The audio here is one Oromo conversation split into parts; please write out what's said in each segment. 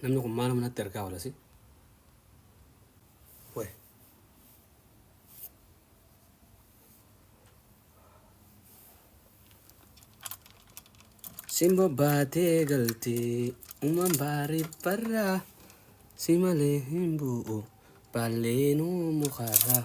Namni kun maaluma natti argaa walasi. Way. Simbo baatee galtee uumaan baarii barraa si malee hin bu'u baalleenuu mukarraa.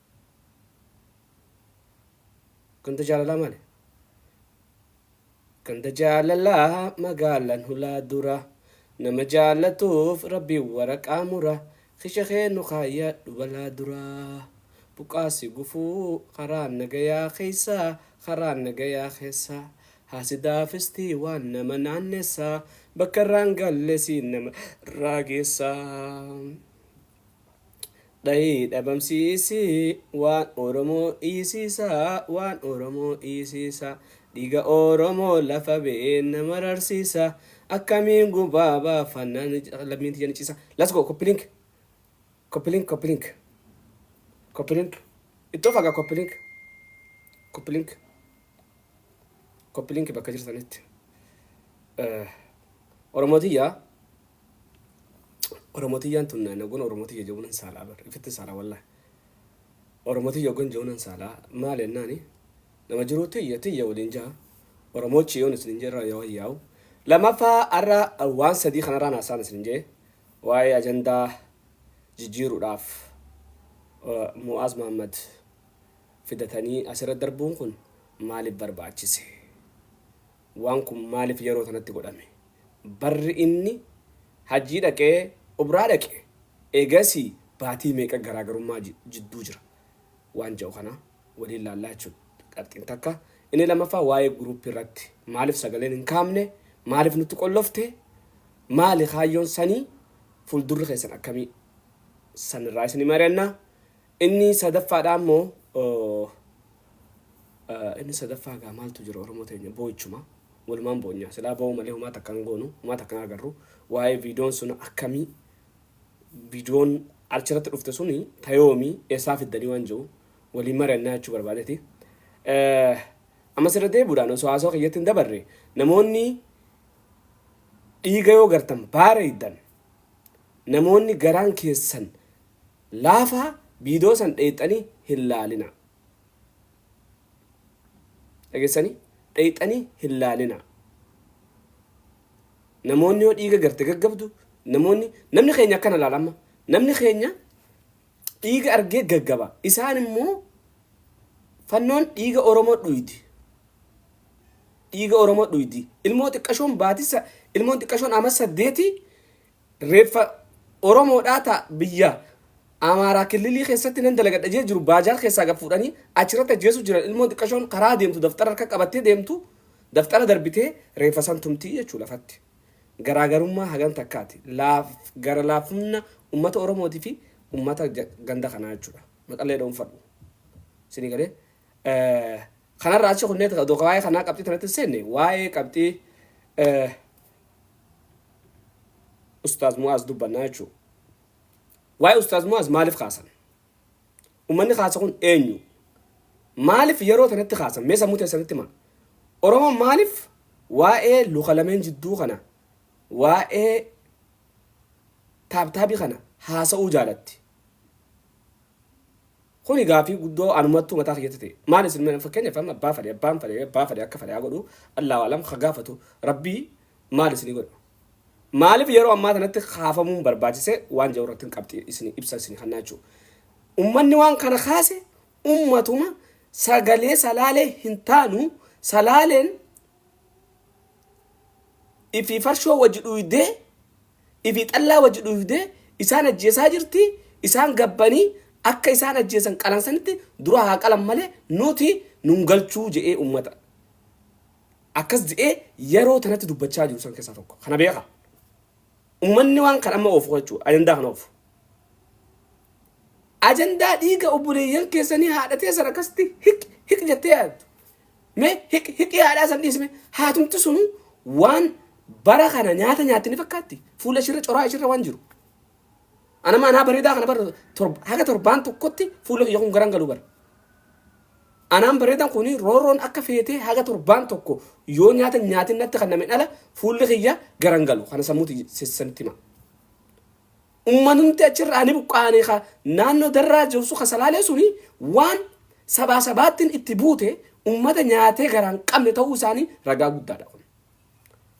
Ganda jaalalaa maali? Ganda jaalalaa magaalan hulaa dura Nama jaallatuuf rabbiin waraqaa mura Kisha kee nu kaayyadhu balaa dura Buqqaasi gufuu karaan nagayaa keessa Karaan nagayaa keessa Haasidaa fistii waan nama naannessa Bakka irraan galle siin nama irraa geessa Dhayii dhabamsiisii waan Oromoo dhiisiisaa waan Oromoo dhiisiisaa Dhiiga Oromoo lafa beenna mararsiisaa Akkamiin gubaa baafanna lammiin tiyya ni ciisa Let's go copy link copy link copy link copy link ittoo fagaa copy link copy link copy link bakka jirtanitti Eh, Oromoo tiyya Oromo tiyyaan tun naan ogon oromo tiyya je'uu nan saalaa bar ifittin saalaa wallahi oromo tiyya ogon je'uu nan saalaa maal ennaani nama jiruu tiyya tiyya waliin ja'a oromoochi yoon isinin je'e irraa yoo hayyaa'u lamaffaa arra waan sadii kanarraan haasaan isinin je'e waa'ee ajandaa jijjiiruudhaaf eh, Mu'aaz Mahammad fidatanii asirra darbuun kun maaliif barbaachise? waan kun maaliif yeroo tanatti godhame? Barri inni hajjii dhaqee Umraa dhaqe eegasii baatii meeqa garaagarummaa jidduu jira? Waan ja'u kana waliin laallaa jechuudha qabxiin takka. Inni lammaffaa waa'ee guruuppii irratti maaliif sagaleen hin kaamne? Maaliif nutti qollofte? Maali kaayyoon sanii? Fuuldurri keessan akkamii? Sanirraa isin mari'anna. Inni sadaffaadhaa immoo inni sadaffaa gaa maaltu jira Oromoo teenya boo'ichuma walumaan boonyaa silaa boo'u malee humaa takka hin goonu humaa takka hin agarru waa'ee viidoon sun akkamii viidoon achirratti dhufte suni tayoomii eessaa fiddanii waan jiru waliin mari'annaa jechuu barbaadeti. Ammas irra deebuudhaan osoo haasoo kiyyatti hin dabarre namoonni dhiiga yoo gartan baara iddan namoonni garaan keessan Laafaa viidoo san dheyxanii hin laalinaa. Dhageessanii? Dheyxanii hin laalinaa. Namoonni yoo dhiiga garte gaggabdu namoonni namni keenya akkana laala amma. Namni keenya dhiiga argee gaggaba. Isaan immoo fannoon dhiiga Oromoo dhuydi. Dhiiga Oromoo dhuydi. Ilmoo xiqqashoon baatisa ilmoon xiqqashoon ama saddeeti Reeffa Oromoodhaa ta biyya Amaaraa killilii keessatti nan dalagadha jee jiru baajaar keessaa gad fuudhanii achirratti ajjeesuu jiran ilmoon xiqqashoon karaa deemtu daftara harka qabattee deemtu daftara darbitee reeffa san tumtii jechuu lafatti. Garaagarummaa hagan takkaati laaf gara laafumna ummata Oromootii fi ummata ja- ganda kanaa jechuudha. Maqallee dhoonfadhu. Isinii galee. Eh, Kanarraa achi kunneen odoo waa'ee kanaa qabxii tanatti hin seenne waa'ee qabxii eh, Ustaaz Mu'aaz dubbannaa jechuu. Waa'ee Ustaaz Mu'aaz maaliif kaasan? Ummanni kaasa kun eenyu? Maaliif yeroo tanatti kaasan? Mee sammuu teessanitti himaa. Oromoon maaliif waa'ee luka lameen jidduu kana waa'ee taabtaabii kana haasa'uu jaalatti? Kuni gaafii guddoo anumattuu mataa kiyyatti ta'e. Maal isin mee fakkeenyaaf amma abbaa fadhe abbaan fadhe abbaa fadhe akka fadhe haa godhu Allaahu a'lam ka gaafatu Rabbii maal isinii godha? Maaliif yeroo ammaa tanatti kaafamuun barbaachise waan jedhu irrattin qabxii isinii ibsa isinii kennaa jechuu. Ummanni waan kana kaase ummatuma sagalee salaalee hin taanu salaaleen ifii farshoo wajji dhuydee ifii xallaa wajji dhuufdee isaan ajjeesaa jirti isaan gabbanii akka isaan ajjeesan qalan sanitti dura haa qalan malee nuti nun galchuu je'ee ummata akkas je'ee yeroo tanatti dubbachaa jiru san keessaa tokko kana beeka ummanni waan kan amma oofu jechuu ajandaa kana oofu ajandaa dhiiga obboleeyyan keessanii haadha teessan akkasitti hik hik jettee yaaddu Mee hiq- hiqii haadhaa san dhiisi mee haatumti sunu waan bara kana nyaata nyaatti ni fakkaatti fuula ishirra coraa ishirra waan jiru. Ana maanaa bareedaa kana bara torba- haga torbaan tokkotti fuula kiyya kun garan galu bara. Anaan bareedan kun roorroon akka feetee haga torbaan tokko yoo nyaata nyaatin natti kan nameen ala fuulli kiyya garan galu kana sammuuti sissanitti hima. Ummanumti achirraa ni buqqa'ani ka naannoo Darraa jirsu ka Salaalee suni waan sabaa sabaattin itti buute ummata nyaatee garaa hin qabne ta'uu isaanii ragaa guddaadha kun.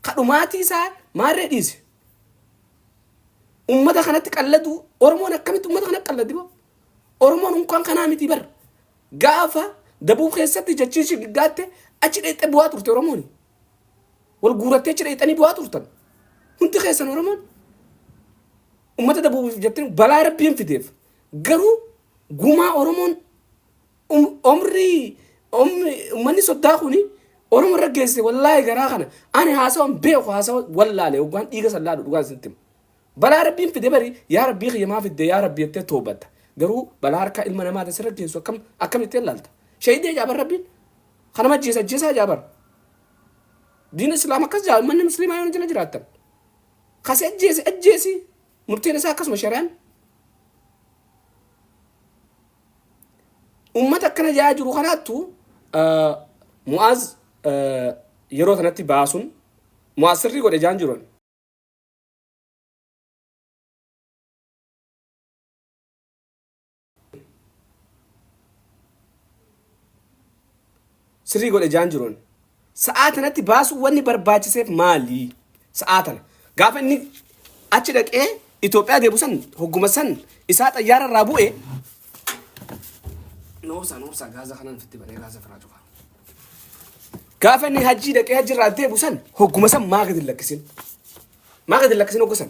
Ka dhumaatii isaa maarree dhiisi. Ummata kanatti qalladuu Oromoon akkamitti ummata kanatti qalladdi boo? Oromoon unkaan kanaa miti bar. Gaafa dabuub keessatti jechiin shiggaatte achi dheexxe bu'aa turte Oromooni. wal guurattee achi dhayxanii du'aa turtan hundi keessan oromoon ummata dabuuf jettanii balaa rabbiin fideef garuu gumaa oromoon um- omrii omri- ummanni soddaa kuni oromoo irra geesse wallaahi garaa kana ani haasawan beeku haasawa wallaale hoggaan dhiiga sallaadhu dhugaan sitti himu. balaa rabbiin fide bari yaa rabbii kiyya maa fidde yaa rabbii jettee toobatta garuu balaa harkaa ilma namaa tasirra geessu akkam akkamitti ilaalta shahidee jaaban rabbiin Kan nama ajjeesa ajjeesaa jaa bara. Diina Islaam akkas jaa manni musliimaa yoo jala jiraattan. Kasi ajjeesi ajjeesi murteen isaa akkasuma shari'aan. Uummata akkana jaa jiru kanaattu Mu'aaz yeroo sanatti baasuun Mu'aaz sirrii godhe jaan jiru. Sirrii godhe jaan jiroon. Sa'aa tanatti baasuu wanni barbaachiseef maali? Sa'aa tana. Gaafa inni achi dhaqee Itoophiyaa deebu san hogguma san isaa xayyaara irraa bu'e. Noobsaa noobsaa gaaza kanaan fitti banee gaaza firaa cufa. Gaafa inni hajjii dhaqee hajji irraa deebu san hogguma san maa gadi lakkisin? Maa gadi lakkisin hoggu san?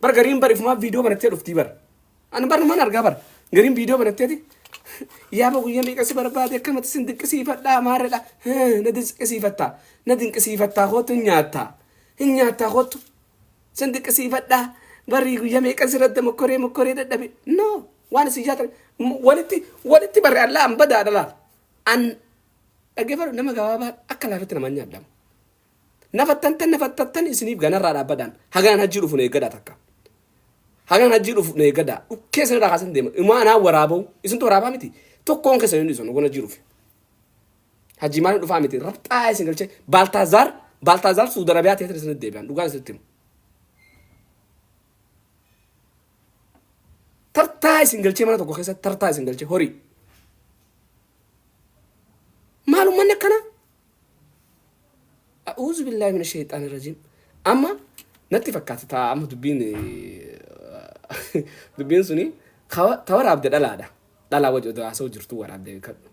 Bar gariin bar ifumaa viidiyoo banattee dhuftii bar. Ani bar numan argaa bar. Gariin viidiyoo banatteeti. Yaaba guyyaa meeqa si barbaade akkamatti sin dinqisiifadhaa maarredha. Na dinqisiifattaa. Na dinqisiifattaa kootu hin nyaattaa. Hin nyaattaa kootu. Sin dinqisiifadhaa. Barri guyyaa meeqa sirratti mokkoree mokkoree dadhabe. No. Waan isin jaatan walitti walitti barre allaa an badaa dhalaa. An dhaggeeffadhu nama gabaabaa akka laafatti namaan nyaadhamu. Nafattantan nafattattan isiniif ganarraa dhaabbadhaan hagaan hajjii dhufu na eeggadhaa takka. Hagaan hajjii dhufu na eeggadhaa dhukkee isinirraa kaasan deema. Imaa anaa waraaba'u isintu waraabaa miti tokkoon keessan hin dhiisan hogoon hajjii dhufe. Hajjii maaliin dhufaa miti rabxaa isin galchee Baaltaazaar Baaltaazaar Suuda Arabiyaa teessan isinitti deebi'an dhugaan isinitti himu. Tartaa isin galchee mana tokko keessatti tartaa isin galchee horii. Maalummaan akkanaa A'uuzu billaahi mina sheexaani rajiim. Amma natti fakkaata taa amma dubbiin dubbiin suni ta waraabde dhalaadha. Dhalaa waji odoo haasa'u jirtuu waraabde kadhu.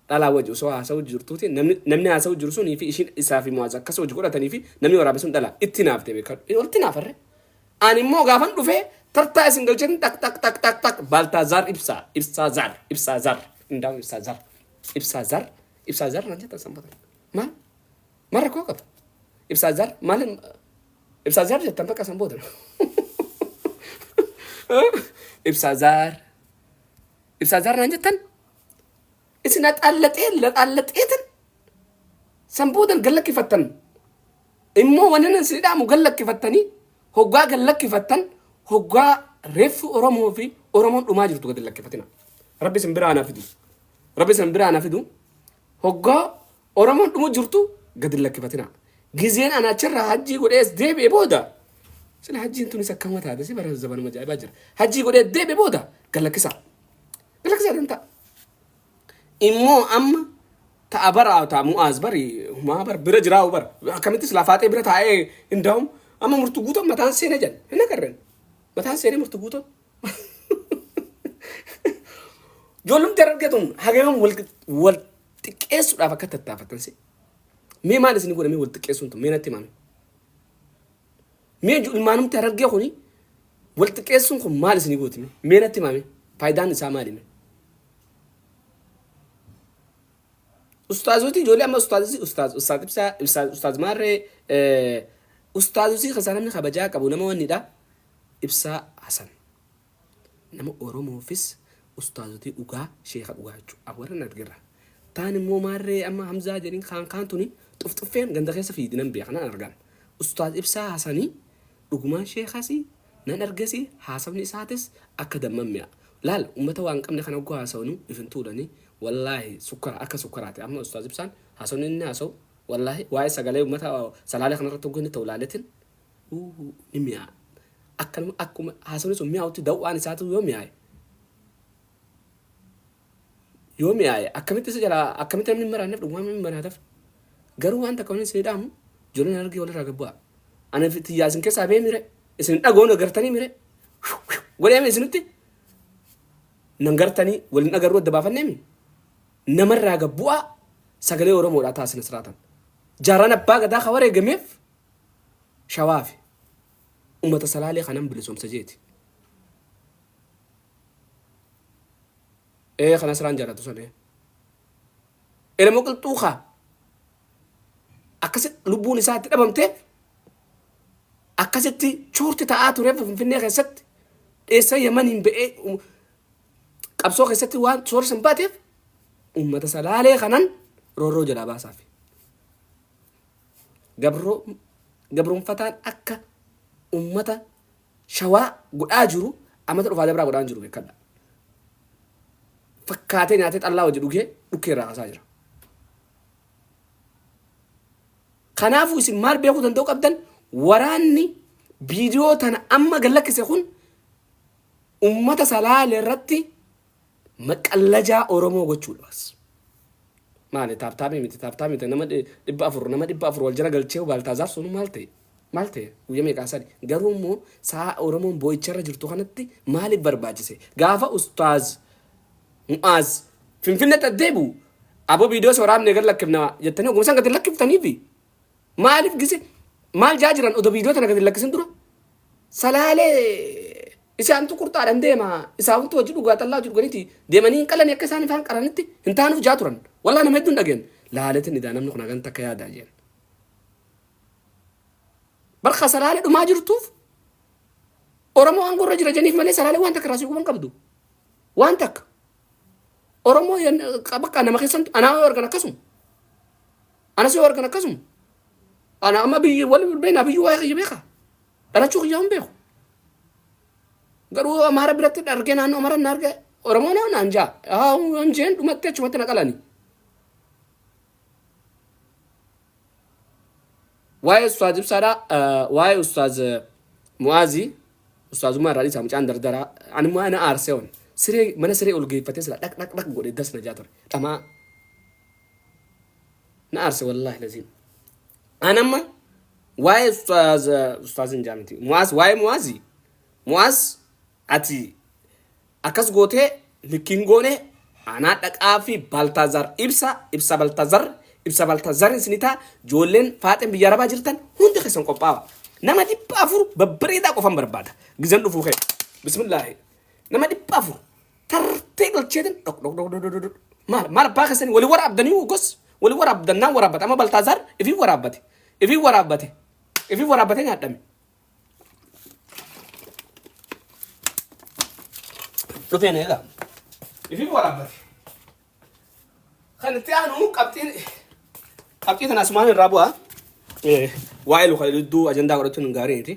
Dhalaa waji osoo haasa'u jirtuuti namni namni haasa'u jiru sunii fi ishiin isaa fi mu'aaz akkas hojii godhatanii fi namni waraabe sun dhalaa itti naafte beekadhu. Olti naafarre. Ani immoo gaafan dhufee tartaa isin galchin tak tak tak tak tak baaltaa zaar ibsaa ibsaa zaar ibsaa zaar qindaa'u ibsaa zaar ibsaa zaar Ibsaa zar naan jettan sanbata. Maal? Maal rakkoo qaba? Ibsaa zar maal ibsaa zar jettan bakka san booda. Ibsaa zar ibsaa zar naan jettan isin axaallaxee laxaallaxeetan san boodan gallakkifattan immoo wanni nan isin dhaamu gallakkifattanii hoggaa gallakkifattan hoggaa reeffi Oromoo fi Oromoon dhumaa jirtu gad lakkifatina. Rabbi isin biraa anaaf fidu. Rabbi isan biraa na fidu hoggaa Oromoon dhumu jirtu gad hin lakkifatinaa. Gizeen ana achirraa hajjii godhee as deebi'e booda sila hajjiin tunis akkama taate si bara zabanuma jaa'ibaa jira. Hajjii godhee as deebi'e booda gad lakkisaa. Gad lakkisaa tan ta'a. Immoo amma ta'a bara ta'a mu'aaz bari humaa bar bira jiraa'u bar akkamittis lafaaxee bira taa'ee hin daa'um amma murtu guutan mataan seena jedhan hin agarren mataan seenee murtu guutan. Ijoollumti argaa tun hagaman wal wal xiqqeessuudhaaf akka tattaafatan si. Mee maal isin godhamee wal xiqqeessuun tun mee natti himame. Mee ilmaanumti argaa kuni wal xiqqeessuun kun maal isin gootime mee natti himame faayidaan isaa maalime. Ustaazoti ijoollee amma ustaazisi ustaaz ustaaz ibsaa ibsaa ustaaz maarree ustaazosii keessaa namni kabajaa qabu nama wannidha. Ibsaa Hasan nama oromoofis ustaazotii dhugaa sheeka dhugaa jechuu a warra na dhgerra taan immoo maarree amma hamzaa jedhin kaan kaan tuni xufxuffeen ganda keessa fiidi nan beeka nan argaan ustaaz ibsaa hasani dhugumaan sheekasi nan argesi haasafni isaatis akka damman mi'a laal ummata waan qabne kana ogguu haasawnu if hin tuulani wallaahi sukkara akka sukkaraati amma ustaaz ibsaan haasawni inni haasawu wallaahi waa'ee sagalee ummata salaalee kanarratti ogguu inni ta'u laaletin Uuhuu ni mi'aa'a. Akka nama akkuma haasofni sun mi'aawutti daw'aan isaatu yoo mi'aaye yoo mi'aaye akkamitti isa jalaa akkamitti namni hin maraanneef dhugumaan namni maraataf garuu waan takka wanni isinii dhaamu ijoolleen hargee walirraa gad bu'aa. Ani fi tiyyaa isin keessaa bee mire isin dhagoon agartanii mire godheeme isinitti nan gartanii waliin agarruu adda baafanneemi namarraa gad bu'aa sagalee Oromoodhaa taasina siraatan. Jaarraan abbaa gadaa ka wareegameef shawaa fi umata salaalee kanan bilisomsa jeeti ee kan asraan jaalatu san ee elemo qilxuu kaa akkasi lubbuun isaa itti dhabamtee akkasitti shoorti ta'aa tureef finfinnee keessatti dheessa yamaniin ba'ee um, qabsoo keessatti waan shoorri san baateef ummata salaalee kanan roorroo jalaa baasaafi gabroomfataan akka ummata shawaa godhaa jiru amata dhufaa dabraa godhaan jiru beekadha. Fakkaatee nyaatee xallaa wajji dhugee dhukkee irraa kaasaa jira. Kanaafuu isin maal beekuu danda'u qabdan waraanni viidiyoo tana amma gallakkise kun ummata salaale irratti Maqallajaa Oromoo gochuu dha bas. Maali taaptaapii miti taaptaapii miti nama dhi- dhibba afur nama dhibba afur wal jala galchee Baaltaazaar sun maal ta'e? Maal ta'e? Guyyaa meeqaa sadi. Garuu immoo sa'a Oromoon boo'icharra jirtu kanatti maaliif barbaachise? Gaafa ustaaz Mu'aaz Finfinneetti as deebi'u aboo viidiyoo si waraabnee gad lakkifna jettanii oguma san gad hin lakkiftaniifi. Maaliif gise maal jaa jiran odo viidiyoo tana gadi lakkisin dura salaalee isaantu qurxaadhaan deema isaantu hojii dhugaa xallaa hojii dhuganiiti deemanii hin qalanii akka isaan ifaan qaranitti hin taanuuf jaa turan wallaa nama hedduun dhageen laaleetiin idaa namni kun hagan takka yaadaa jeen barka salaalee dhumaa jirtuuf Oromoo aangoo irra jira jeniif malee salaalee waan takka raasii guban qabdu waan takka Oromoo bakka nama keessantu anaa yoo argan akkasuma Anas yoo argan akkasuma. Ana amma biyyi wal beekna biyyi waa'ee kiyya beeka. Dhalachuu kiyyaa hin beeku. Garuu Amaara biratti argee naannoo Amaara na arge Oromoo na naan jaa. Haa hin jeen dhumatti achumatti na qalani. Waa'ee Ustaaz Ibsaadhaa waa'ee Ustaaz Mu'aazii Ustaazummaa irraa dhiisaa mucaan dardaraa ani immoo ana aarsee oon siree mana siree ol geeffatee sila dhaq dhaq dhaq godhe das na jaa ture dhamaa na aarse wallahi lazim an amma waa'ee ustaaz ustaazin jaamti mu'aaz waa'ee mu'aazi mu'aaz ati akkas gootee likkiin goone anaa dhaqaa fi baltaazaar ibsa ibsa baltaazaar ibsa baltaazaar isinitaa joolleen faaxeen biyya arabaa jirtan hundi keessan qophaawa nama dhibba afur babbareedaa qofan barbaada gizan dhufuu kee bismillaahi nama dhibba afur tartee galcheetin dhok dhok dhok dhok dhok dhok. maal maal abbaa keessanii wali waraabdanii gos wali waraabdannaan waraabbate amma baltaazaar ifii waraabbate ifii waraabbate ifii waraabbate nyaadhame dhufeen eegaa ifii waraabbate kan itti aanu qabxiin qabxii kana asumaan irraa bu'a Eh, waa'ee luka hedduu ajandaa godhachuun hin gaarii miti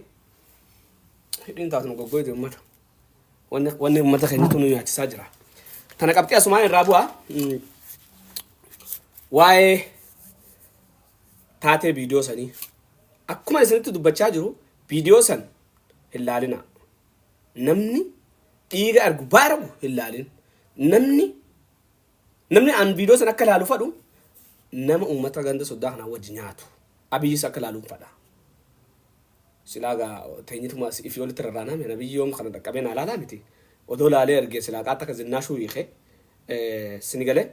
hidhiin taatuma goggooyte uummata Wanni wanni uummata keenyatu nu nyaachisaa jira. Tana qabxii asumaan irraa bu'a. Mm, Waa'ee taatee viidiyoo sanii. Akkuma isinitti dubbachaa jiru viidiyoo san hin laalinaa. Namni dhiiga argu baaragu hin laalin. Namni Namni an viidiyoo san akka ilaalu fadhu nama uummata ganda soddaa kanaa wajji nyaatu. Abiyyis akka ilaaluun fadha. Silaa gaa teenyituma ifii olitti rarraanaa miti. Abiyyi yoom kana dhaqqabee naa ilaalaa miti. Odoo ilaalee argee silaa qaatta akka zinnaashuu hiikee sini galee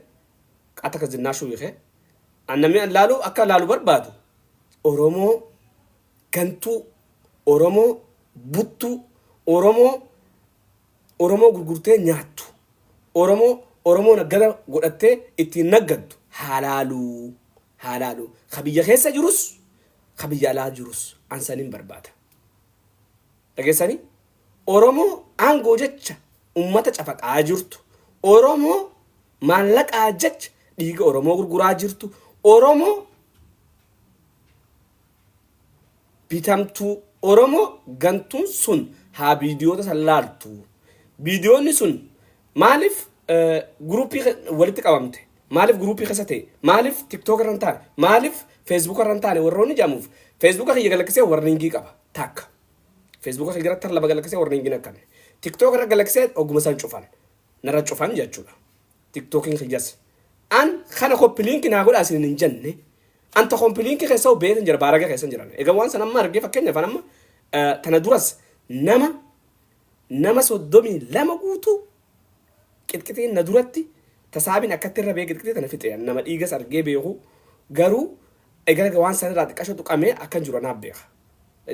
qaatta akka zinnaashuu hiikee an namni an ilaalu akka ilaalu barbaadu Oromoo gantuu Oromoo buttuu Oromoo Oromoo gurgurtee nyaattu, Oromoo Oromoo naggada godhattee ittiin naggaddu haa laaluu, haa laaluu. Ka biyya keessa jirus, ka biyya alaa jirus an sanin barbaada. Dhageessanii? Oromoo aangoo jecha ummata cafaqaa jirtu, Oromoo maallaqaa jecha dhiiga Oromoo gurguraa jirtu, Oromoo bitamtuu oromoo gantuun sun haa viidiyoota san laaltu viidiyoonni sun maaliif guruupii walitti qabamte maaliif guruupii keessa ta'e maaliif tiktook irra hin taane maaliif feesbuuka irra hin taane warroonni jedhamuuf feesbuuka kiyya galaksee warniingii qaba takka feesbuuka kiyya irratti lama galaksee warniingiin akkame tiktook irra galaksee oguma san cufan narra cufan jechuudha. tiktokin kiyyas an kana koppi linki naa godhaa isinin hin jenne an ta kompi linki keessau beekan jira baaraga keessan jiran egaa waan san amma argee fakkeenya fan amma eh, tana duras nama nama soddomii lama guutuu qixqixeen na duratti tasaabiin akkatti irra bee qixqixee tana fixee an nama dhiigas argee beeku garuu egaa waan san irraa xiqqasho tuqamee akkan jiru anaaf beeka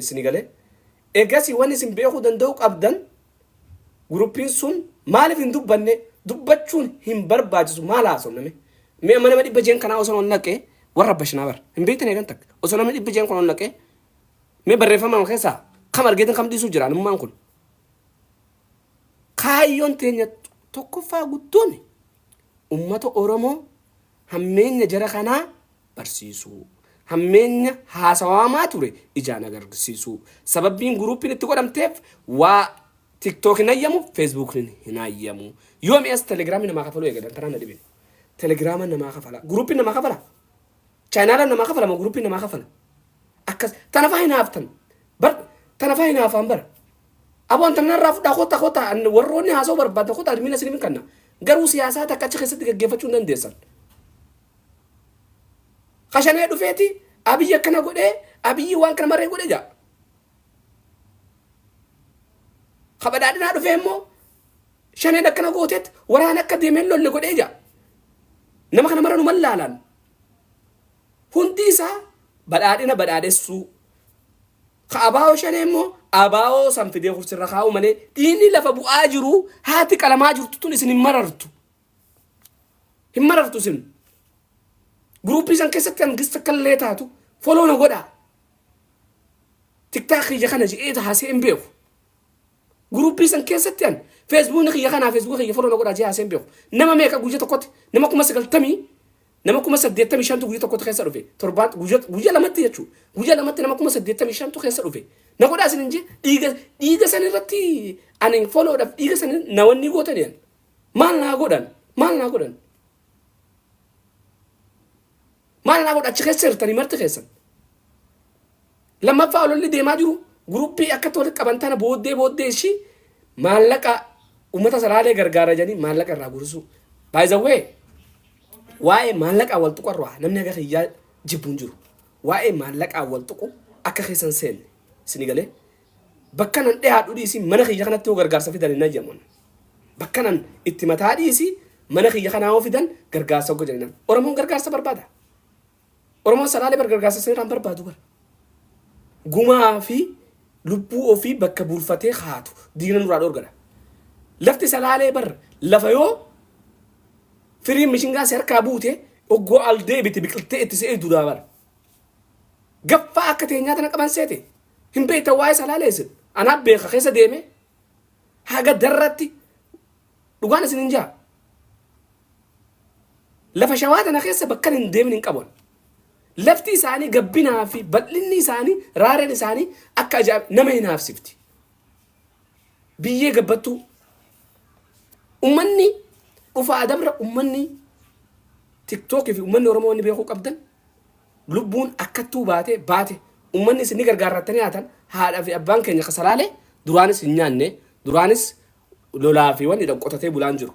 isin galee egasii waan isin beekuu danda'u qabdan Guruppiin sun maalif hin dubbanne dubbachuun hin barbaachisu maal haasofna mee mee amma nama dhibba jeen kanaa osoo ol naqee warra bashinaa bar hin beektan eegan takka osoo namni dhibba jeen kun ol naqee mee barreeffama keessaa kam argeetan kam dhiisuu jira alummaan kun kaayyoon teenya tokkoffaa guddoon ummata oromoo Hammeenya jara kanaa barsiisuu. Hammeenya haasawaamaa ture ijaan agarsiisuu. Sababbiin guruuppiin itti godhamteef waa TikTok hin hayyamu, Facebook hin hayyamu. Yoo mi'as Telegram namaa kafaluu eegadan tanaan na dhibin. Telegram namaa kafala. Guruuppiin namaa kafala. Chaanaala namaa kafala moo guruuppiin namaa kafala. Akkas tanafaa hin haaftan. Bar tanafaa hin haafaan bara. Aboon tanna irraa fudhaa kota kota warroonni haasoo barbaadda kota admiina isiniif hin kanna. Garuu siyaasaa takka achi keessatti gaggeeffachuu hin dandeessan. Kashanee dhufeeti abiyyi akkana godhee abiyyi waan kana maree godhe jaa. Kabadhaadhinaa dhufee immoo shaneen akkana gooteet waraana akka deemeen lolle godhee jaa. Nama kana mara nu mallaalaan. Hundi isaa badhaadhina badhaadhessuu. Ka abaawoo shanee immoo abaawoo san fidee kursirra kaa'uu malee dhiinni lafa bu'aa jiru haati qalamaa jirtu tun isin hin marartu. Hin marartu isin. Guruuppii san keessatti kan gista kallee taatu foloo na godhaa. Tiktaakii kana je'ee taasee hin beeku. Guruppii san keessatti an feesbuukni kiyya kanaa feesbuuka kiyya foloo na godhaa jee haaseen beeku. Nama meeqa guyya tokkotti nama kuma sagaltamii nama kuma saddeettamii shantu guyya tokkotti keessa dhufe. Torbaan guyya guyya lamatti jechuu guyya lamatti nama kuma saddeettamii shantu keessa dhufe. Na godhaa isin hin jee dhiiga dhiiga san irratti ani foloodhaaf dhiiga san na wanni gootani an. Maal naa godhan maal naa godhan. Maal naa godha achi keessa jirtanii marti keessan. Lammaffaa ololli deemaa jiru guruppii akka walitti qaban tana booddee booddee ishii maallaqa uummata saraalee gargaara jedhanii maallaqa irraa gurisuu. Baay'izawwee waa'ee maallaqaa wal tuqu irraa namni akka kiyyaa jibbuun jiru. Waa'ee maallaqaa wal tuqu akka keessan seenne isin galee Bakkan an dhihaadhu dhiisii mana kiyya kanatti yoo gargaarsa fidan hin hayyamon. Bakkan an itti mataa dhiisii mana kiyya kanaa yoo fidan gargaarsa hogga jennaan. Oromoon gargaarsa barbaada. Oromoon salaalee bar gargaarsa seeraan barbaadu bar. Gumaa fi lubbuu ofii bakka buufatee haatu diina nurraa dhorgadha. Lafti salaalee bar lafa yoo firiin mishingaa si harkaa buute oggoo al deebite biqiltee itti se'ee dudaa bar. Gaffaa akka teenyaa tana qaban seete. Hin beektan waa'ee salaalee isin. Anaa beeka keessa deemee haga darratti dhugaan isin hin jaa. Lafa shawaa tana keessa bakkan hin deemin hin qaban. Lafti isaanii gabbinaa fi bal'inni isaanii raareen isaanii akka ajaa'iba nama hin haafsifti. Biyyee gabbattuu. Ummanni dhufaa dabra ummanni tiktookii fi ummanni Oromoo wanni beekuu qabdan lubbuun akkattuu baate baate ummanni isin ni gargaarrattanii haatan haadha fi abbaan keenya kasalaalee duraanis hin nyaanne duraanis lolaa fi wanni dhan qotatee bulaan jiru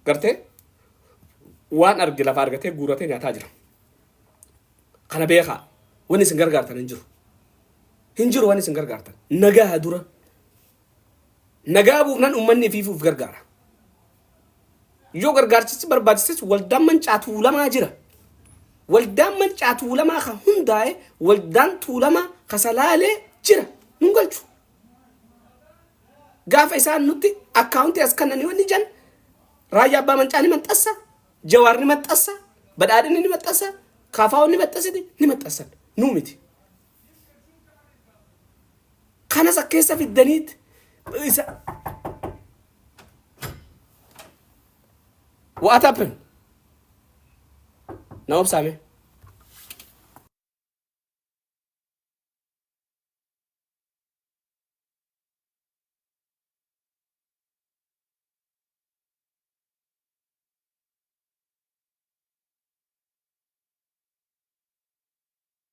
gartee waan arge lafa argatee guuratee nyaataa jira kana beekaa wanni isin gargaartan hin jiru hin jiru wanni isin gargaartan nagaha dura Nagaa buufnan uummanni ifiifuu if gargaara. Yoo gargaarsichi barbaachises waldaan mancaa tuulamaa jira. Waldaan mancaa tuulamaa kan hundaa'e waldaan tuulamaa kasalaalee jira. Nun galchu. Gaafa isaan nutti akkaawuntii as kannanii wanni jan raayyaa abbaa mancaa ni maxxassa, jawaar ni maxxassa, badhaadhinni ni maxxassa, kaafaawwan ni maxxasiti ni maxxassan. Nuu miti. Kanas akka keessa fiddaniit isa What happened? Na obsaame.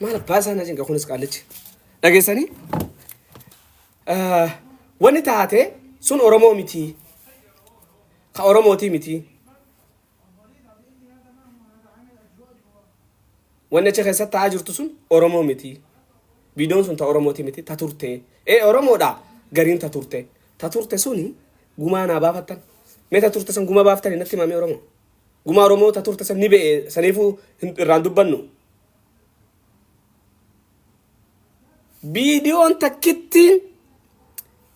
Maal abbaa isaan ajin kunis qaallichi. Dhageessanii? Wanni taate sun Oromoo miti. Ka Oromootii miti. Wanni achi keessatti ta'aa jirtu sun Oromoo miti. Viidiyoon sun ta Oromootii miti. Ta turte. Ee Oromoodha gariin ta turte. Ta turte suni gumaa naa baafattan. Mee ta turte sun gumaa baaftan natti himamee Oromoo. Gumaa Oromoo ta turte san ni be'e saniifuu hin- irraan dubbannu. Viidiyoon takkitti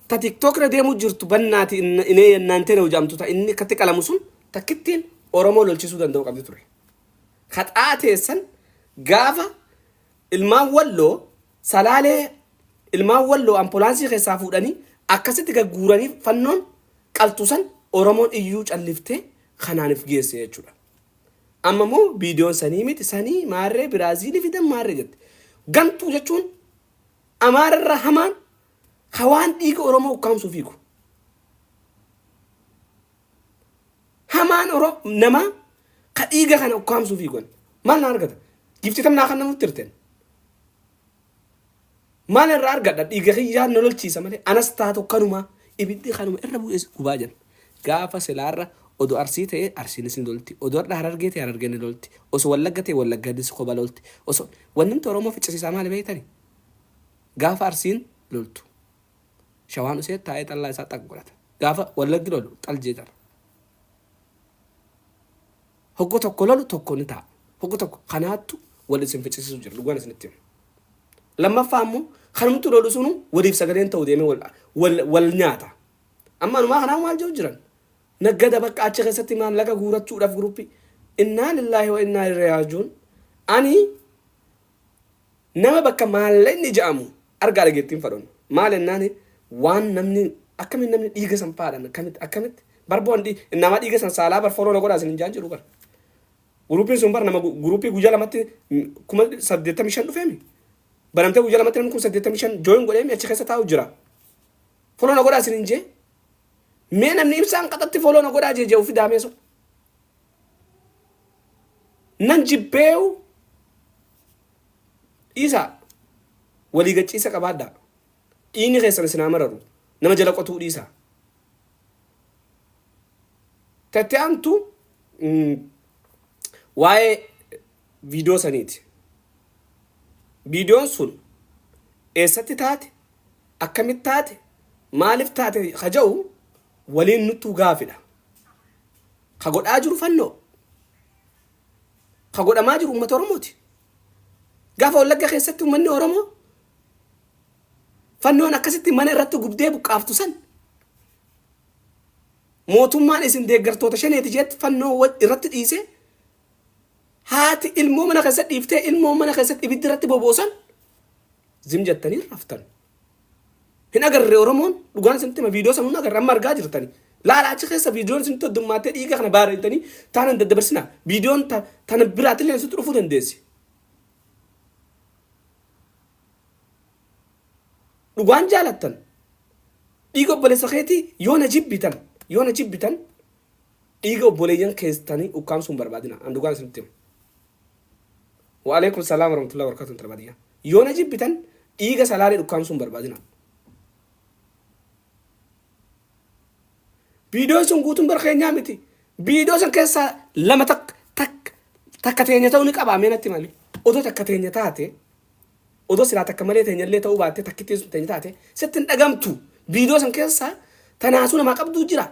ta TikTok irra deemu jirtu bannaati in- inee yennaan tana hojamtu ta inni akkatti qalamu sun takkittiin Oromoo lolchisuu danda'u qabdi ture. Haxaa teessan gaafa ilmaan walloo salaalee ilmaan walloo ampoolaansii keessaa fuudhanii akkasitti gagguuranii fannoon qaltusan Oromoon iyyuu calliftee kanaan if geesse jechuudha. Amma immoo viidiyoon sanii miti sanii maarree Biraaziilii fidan maarree jette. Gantuu jechuun Amaara irraa hamaan ka waan dhiiga Oromoo ukkaamsuu fiigu. Hamaan Oro namaa ka dhiiga kana ukkaamsuu fiigu. Maal na argata? Giftii tam naa kan namutti hirteen. Maal irraa argadha? Dhiiga kiyyaa na lolchiisa malee anas taatu kanumaa ibiddi kanuma irra bu'ees gubaa jenna. Gaafa silaarra odo Arsii ta'e Arsiinis ni lolti, odo har'a Harargee ta'e Harargeen ni lolti, oso Wallagga ta'e Wallagganis koba lolti, oso Wanni nuti Oromoo ficcisiisaa maali beektani? Gaafa Arsiin loltu Shawaan usee taa'ee xallaa isaa xaq godhata. Gaafa Wallaggi lolu xal jeeqama. Hoggu tokko lolu tokko ni ta'a. Hoggu tokko kanaattu wal isin ficcisiisu jira dhugaan isinitti hima. Lammaffaa ammoo kanumtu lolu sunu waliif sagaleen ta'u deemee wal, wal, wal nyaata. Amma anumaa kanaa maal jiru jiran? Naggada bakka achi keessatti maallaqa guurachuudhaaf guruppii. Innaa lillaahi wa innaa ilaihi raaji'uun. Ani nama bakka maallaqni ja'amu Argaa dhageettiin fadhon maal ennaani waan namni akkamiin namni dhiiga san faadhan akkamitti akkamitti bar boon dhii innaamaa dhiiga san saalaa bar fooloo na godhaa sin hin jaan jiru bar guruupiin sun bar nama guruupii guyyaa lamatti kuma saddeettamii shan dhufeemi banamtee guyyaa lamatti namni kuma saddeettamii shan jooyin godheemi achi keessa taa'u jira fooloo na godhaa sin hin jee mee namni ibsaan qaxatti fooloo na godhaa jee jee ufi daamee sun nan jibbeewu Dhiisaa! Walii gachiisa qabaadhaa! Dhiigni keessan isin haa mararu! Nama jala qotuu dhiisaa! Ta itti aantu waa'ee viidiyoo saniiti. Viidiyoon sun eessatti taate, akkamitti taate, maaliif taate ka ja'u waliin nuttuu gaafidha. Ka godhaa jiru fannoo. Ka godhamaa jiru ummata Oromooti. Gaafa Wallagga keessatti ummanni Oromoo fannoon akkasitti mana irratti gubdee buqqaaftu san mootummaan isin deeggartoota shaneeti jeetti fannoo wa- irratti dhiisee haati ilmoo mana keessatti dhiiftee ilmoo mana keessatti ibiddi irratti boboosan zim jettanii raftan. Hin agarre Oromoon dhugaan isinitti hima viidiyoo sanuu hin agarre amma argaa jirtani. Laala achi keessa viidiyoon isinitti heddummaattee dhiiga kana baarreettanii taana hin daddabarsina. Viidiyoon ta- tana biraatillee isinitti dhufuu dandeessi. Dhugaan jaalattan dhiiga obboleessa keetii yoo na jibbitan yoo na jibbitan dhiiga obboleeyyan keessanii ukkaamsuu hin barbaadina. An dhugaan isinitti hima. Wa'aleekum salaam warahmatullahi wabarakatuh intala baadiyyaa yoo na jibbitan dhiiga salaalee dhukkaamsuu hin barbaadinaa. Viidiyoon sun guutuun bar keenyaa miti. Viidiyoo san keessaa lama takka takka takka teenya ta'uu ni qabaa mee natti himame. Odoo takka teenya taate odoo silaa takka malee teenya illee ta'uu baattee takkittiin sun teenya taate sitti hin dhagamtu. Viidiyoo san keessaa tanaasuu namaa qabduu jira.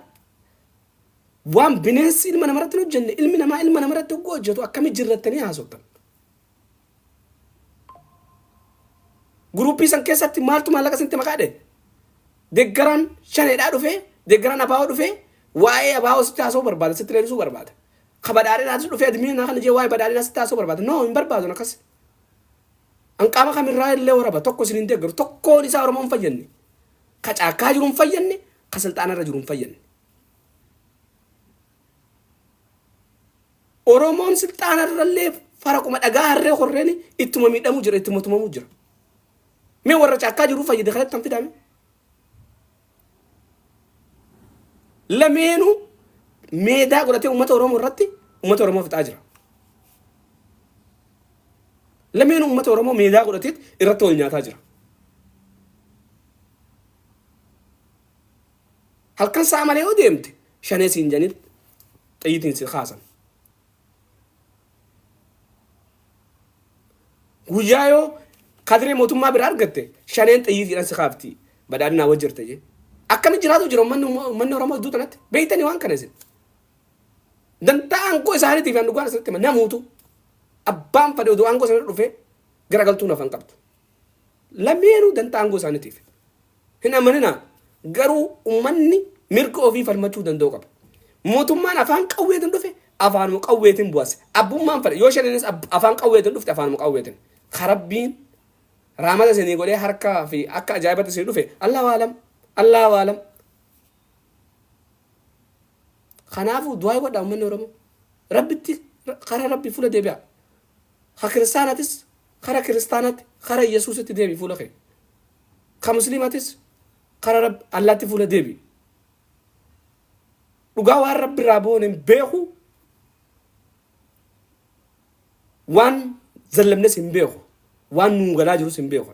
Waan bineensi ilma namarratti hin hojjenne ilmi namaa ilma namarratti hogguu hojjetu akkami jirrattanii haasoftan? Guruuppii san keessatti maaltu maallaqa isinitti maqaa dhe? Deeggaraan shaneedhaa dhufee, deeggaraan abaa'oo dhufee, waa'ee abaa'oo sitti haasa'uu barbaada, sitti leenisuu barbaada. Ka badhaadhinaatis dhufee admiinaa kana jee waa'ee badhaadhinaa sitti haasa'uu barbaada. No, hin barbaadun akkas. Anqaama kamirraa illee waraba tokko isin hin deeggaru. Tokkoon isaa Oromoo hin fayyadne. Ka caakkaa jiru hin fayyadne, ka silxaanarra jiru hin fayyadne. Oromoon silxaana irrallee faraquma dhagaa harree horreeni ittuma miidhamuu jira ittuma tumamuu jira. Mee warra caakkaa jiruu fayyade kanatti kan fidaame. Lameenuu meedaa godhatee uummata Oromoo irratti uummata Oromoo fixaa jira. Lameenuu uummata Oromoo meedaa godhatee irratti wal nyaataa jira. Halkan sa'a malee yoo deemte shanee siin jedhanii xiyyitiin si kaasan. Guyyaa yoo kadiree mootummaa bira argatte shaneen xiyyitiidhaan si kaafti badhaadhinaa wajji jirta jee. Akkami jiraatu jira ummanni ummanni Oromoo iddoo tanatti beektanii waan kana isin. Dantaa aangoo isaaniitiif kan dhugaan isinitti hima namuutu abbaan fadhe odoo aangoo sana dhufee garagaltuu nafan qabdu. Lameenuu dantaa aangoo isaaniitiif. Hin amaninaa. Garuu ummanni mirga ofii falmachuu danda'u qaba. Mootummaan afaan qawweetiin dhufe afaanuma qawweetiin bu'as. Abbummaan fedha. Yoo shaninis afaan qawweetiin dhufte afaanuma qawweetiin. Ka rabbiin raamata isinii godhee harkaa fi akka ajaa'ibatti isinii dhufe Allahu aalam. Allahu aalam. Kanaafuu du'aa godhaa ummanni Oromoo. Rabbitti karaa rabbii fuula deebi'aa. Ka kiristaanatis Kara kiristaanatti kara iyesuusitti deebi fuula kee ka musliimatis kara rab allaatti fuula deebi dhugaa waan rabbi irraa boone hin beeku waan zallamnes hin beeku waan nuu galaa jirus hin beeku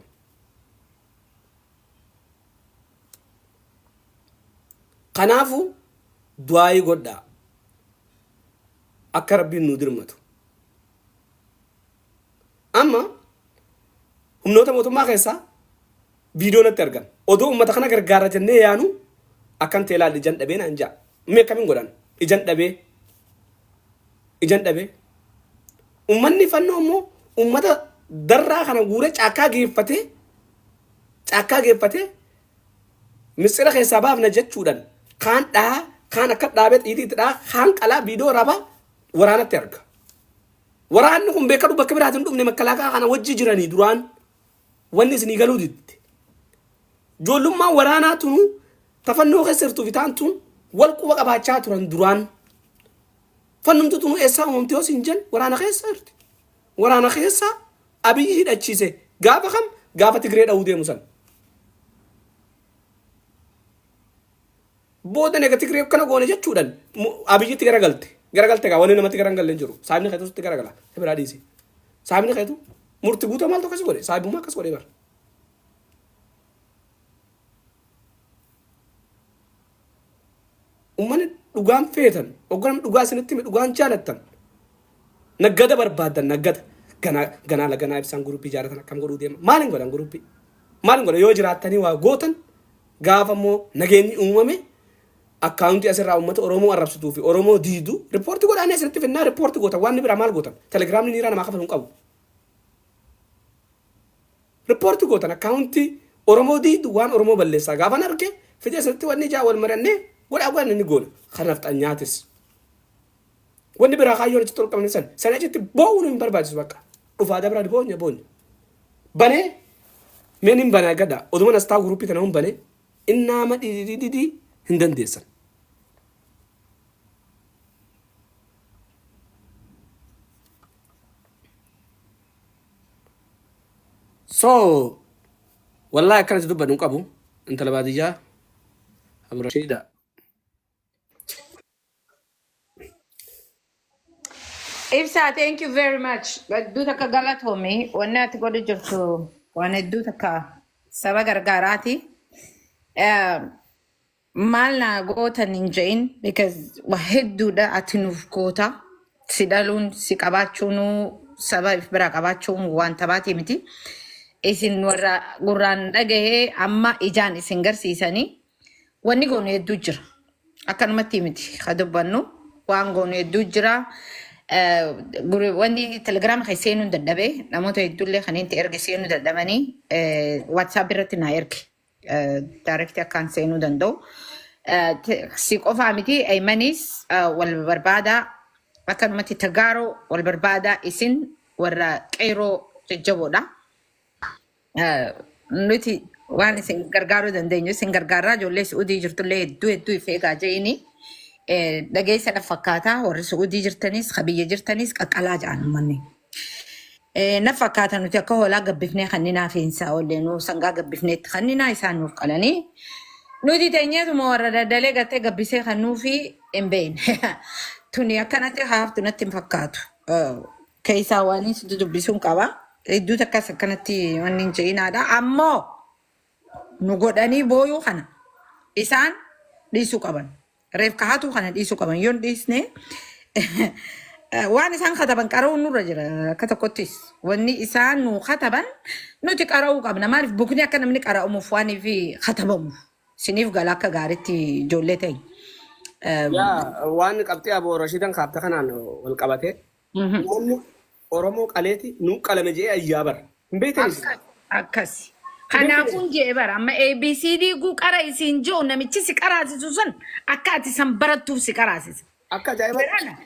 kanaafu du'aayii godhaa akka rabbiin nuu dirmatu Amma humnoota mootummaa keessaa viidiyoo natti argan. Odoo uummata kana gargaara jennee yaanu akkan ta'e ilaalli ijan dhabee naan ja'a. Mee akkamiin godhan? Ijan dhabee. Ijan dhabee. Uummanni fannoo immoo uummata darraa kana guuree caakkaa geeffatee caakkaa geeffatee mitsira keessaa baafna jechuudhaan kaan dhahaa kaan akka dhaabee xiitii itti dhahaa kaan qalaa viidiyoo rabaa waraanatti arga. Waraanni kun beekadhu bakka biraati hin dhufne makkalaakaa kana wajji jiranii duraan wanni isinii galuu didde. Joollummaan waraanaa tunu tafannoo keessa jirtu bitaan tun wal quba qabaachaa turan duraan. Fannumtu tunu eessaa uumamte yoo siin jen waraana keessa jirti. Waraana keessa abiyyi hidhachiise gaafa kam gaafa Tigree dha'uu deemu san. Booda nega Tigree akkana goone jechuudhaan mu- Abiyyitti garagalte. Garagalte kaa wanni namatti garan galle hin jiru. Saabni keetu sitti garagala. Si biraa dhiisi. Saabni keetu murti guutuu maaltu akkas godhe? Saabummaa akkas godhe bara. Uummanni dhugaan feetan, ogganam dhugaa isinitti hime dhugaan jaalattan. Naggada barbaadan naggada. Ganaa ganaa laganaa ibsaan guruppii jaalatan akkam godhuu deema. Maal hin godhan guruppii? Maal hin godhan yoo jiraattanii waa gootan Gaafa immoo nageenyi uumame akkaawuntii asirraa uummata Oromoo arrabsituu fi Oromoo diidu riippoorti godhaanii asirratti finnaa riippoorti gootan waan biraa maal gootan telegiraamni niiraa namaa kafalu hin qabu. Riippoorti gootan akkaawuntii Oromoo diidu waan Oromoo balleessaa gaafan arge fidee asirratti wanni ijaa wal marannee godhaa godhan inni goona. Kan nafxanyaatis. Wanni biraa kaayyoon achitti olqabamne san. Sanii achitti boo'uun hin barbaachisu bakka. Dhufaa dabraa boonya boonya. Banee mee nin bana egadha oduman as taa'u guruppii kana yoon bane innaama dhididididii hin dandeessan. So wallahi akkana itti dubbadhu hin qabu intala baadiyyaa Abdurrashiidha. Ibsaa, thank you very much. Hedduu takka galatoomi. Wanni ati godhu jirtu waan hedduu takka saba gargaaraati. Eh, Maal na gootan hin je'in because waa hedduudha ati nuuf goota. Si dhaluun, si qabaachuun, saba if biraa qabaachuun waan taphaatii miti. Isin warra gurraan dhagahee amma ijaan isin garsiisanii Wanni goonu hedduu jira. Akkanumatti miti ka dubbannu waan goonu hedduu jira. Eh, guru- Wanni telegiraama kan seenuu hin dadhabe namoota hedduullee kan itti erge seenuu dadhabanii waatsaap irratti naa erge daarekti akkaan seenuu danda'u. Eh, te- Si qofaa miti eeymanis wal barbaadaa akkanumatti tagaaroo wal barbaadaa isin warra qeeroo jajjaboodha. Eh, nuti waan isin gargaaruu dandeenyu isin gargaaraa ijoollee su'udii jirtullee hedduu hedduu if eegaa je'ini Eh, dhageessa na fakkaataa warri su'udii jirtanis ka biyya jirtanis qaqqalaa ja'an ummanni Eh, na fakkaata nuti akka hoolaa gabbifnee kanninaa fiinsaa oollee nuu sangaa gabbifneetti kanninaa isaan nuuf qalanii nuti teenyeetuma warra daldalee gattee gabbisee kan nuufi hin beekne tuni akkanatti haaftu natti hin fakkaatu Eh, keessaa waan inni sitti dubbisuun qaba. Hedduu takkas akkanatti wanni hin ce'inaadha. Ammoo nu godhanii booyuu kana isaan dhiisuu qaban. Reef kahatuu kana dhiisuu qaban. Yoon dhiisne waan isaan kataban qara'uun nurra jira akka tokkottis. Wanni isaan nu kataban nuti qara'uu qabna. Maaliif bukni akka namni qara'amuuf waan fi katabamuuf. Siniif gala akka gaariitti ijoollee ta'e. Yaa waan qabxii aboo Rashiidan kaafte kanaan wal qabate Mhm. Uummanni Oromoo qaleeti nuu qalame jedhee ayyaa bara. Hin beektan isin. Akka- akkasi Hin beektan kanaafuun isin. jee bara amma abcd guu qara isiin jiru namichi si qaraasisu san akka ati san barattuuf si qaraasisa Akka ajaa'ibaatti. barana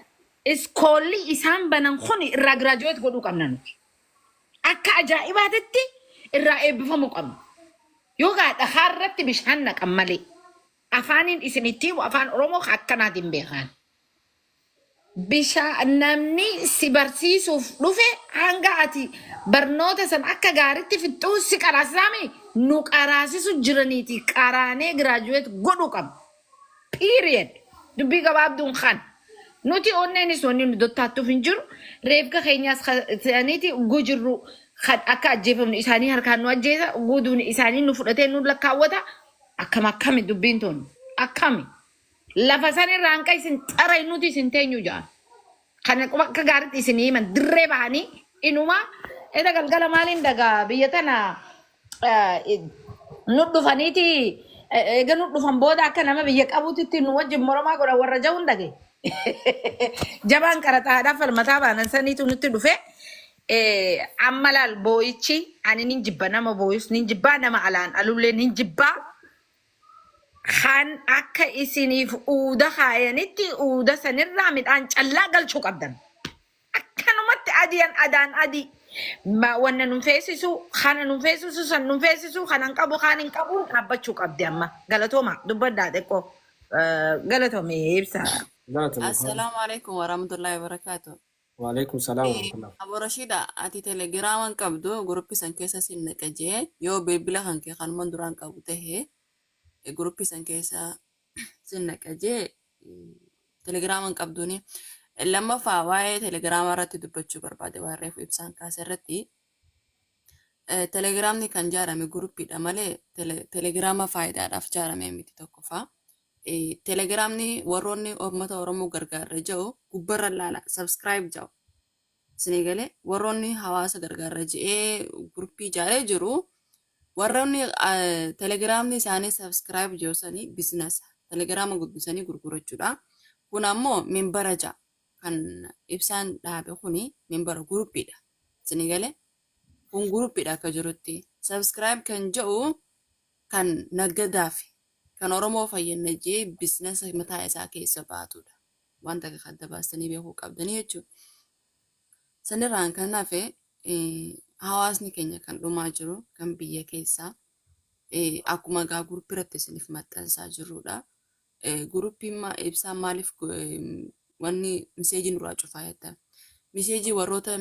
iskoolli isaan banan kun irraa giraajuweet godhuu qabna nuti akka ajaa'ibaatitti irraa eebbifamuu qabna yoo gaa dhakaa irratti bishaan naqan malee afaaniin isin itti himu afaan oromoo ka akkanaatiin beekan Bishaa namni si barsiisuuf dhufe hanga ati barnoota san akka gaaritti fixxuu si qaraasisaa mii? Nu qaraasisu jiraniiti qaraanee graduate godhu qabna. Period. Dubbii gabaabduun kan. Nuti onneenis wanni nu dottaattuuf hin jiru. Reefka keenyaas ka- isaaniiti gujirru kan akka ajjeefamnu isaanii harkaan nu ajjeesa guuduun isaanii nu fudhatee nu lakkaawwata. Akkam akkami dubbiin tun akkami. Lafa san irraa hanqa isin xarayin nuti isin teenyu ja'an. Kana qofa akka gaariitti isin himan dirree bahanii inuma eda galgala maaliin dagaa biyya tana eh, nu dhufaniiti eh, eega nu dhufan booda akka nama biyya qabuutitti nu wajjin moromaa godhan warra ja'uun dhage. Jabaan qaraxaadhaaf falmataa baanan saniitu nutti dhufe. Eh, Amma laal boo'ichi ani nin jibba nama boo'us nin jibbaa nama alaan alullee nin jibbaa. Kan akka isiniif uuda kaayanitti uuda sanirraa midhaan callaa galchuu qabdan. Akkanumatti adiyan adaan adii ma- wanna nun feesisu kana nun feesisu san nun feesisu kanan qabu kaan hin qabuun dhaabbachuu qabdi amma. Galatooma dubbadhaa xiqqoo eh, galatoomi ibsa. Galatomi. Assalamu alaikum warahmatullahi wabarakatuh. Waalaikum salaam Ee, warahmatullah. Abo Rashida ati telegiraama hin qabdu guruppi san keessa sin naqa jee yoo bilbila kan kee kanuman duraan qabu tahe e, guruppi san keessa sin naqa jee mm, telegiraama hin qabduuni. Lammaffaa waa'ee telegiraama irratti dubbachuu barbaade waan reefu ibsaan kaase irratti Telegiraamni kan jaarame guruppiidha malee telegiraama faayidaadhaaf jaarame miti tokkoffaa. Telegiraamni warroonni uummata Oromoo gargaarra jedhu gubbarra laala subscribe jedhu. Isinii galee warroonni hawaasa gargaarra jedhee guruppii jaaree jiru warroonni telegiraamni isaanii subscribe jedhu sanii bizinasa telegiraama guddisanii gurgurachuudha. Kun ammoo minbara ja'a. kan ibsaan dhaabe kuni minbara guruppiidha isinii galee kun guruppiidha akka jirutti subscribe kan ja'u kan naggadaafi kan oromoo fayyanna jee bisinasa mataa isaa keessa baatuudha waan takka adda baastanii beekuu qabdanii jechuu sanirraan kan hafe hawaasni keenya kan dhumaa jiru kan biyya keessaa akkuma gaa guruppiratti isiniif maxxansaa jirruudha Guruppiin ma ibsaan maaliif wanni miseejii nurraa cufaa jettan. Miseejii warroota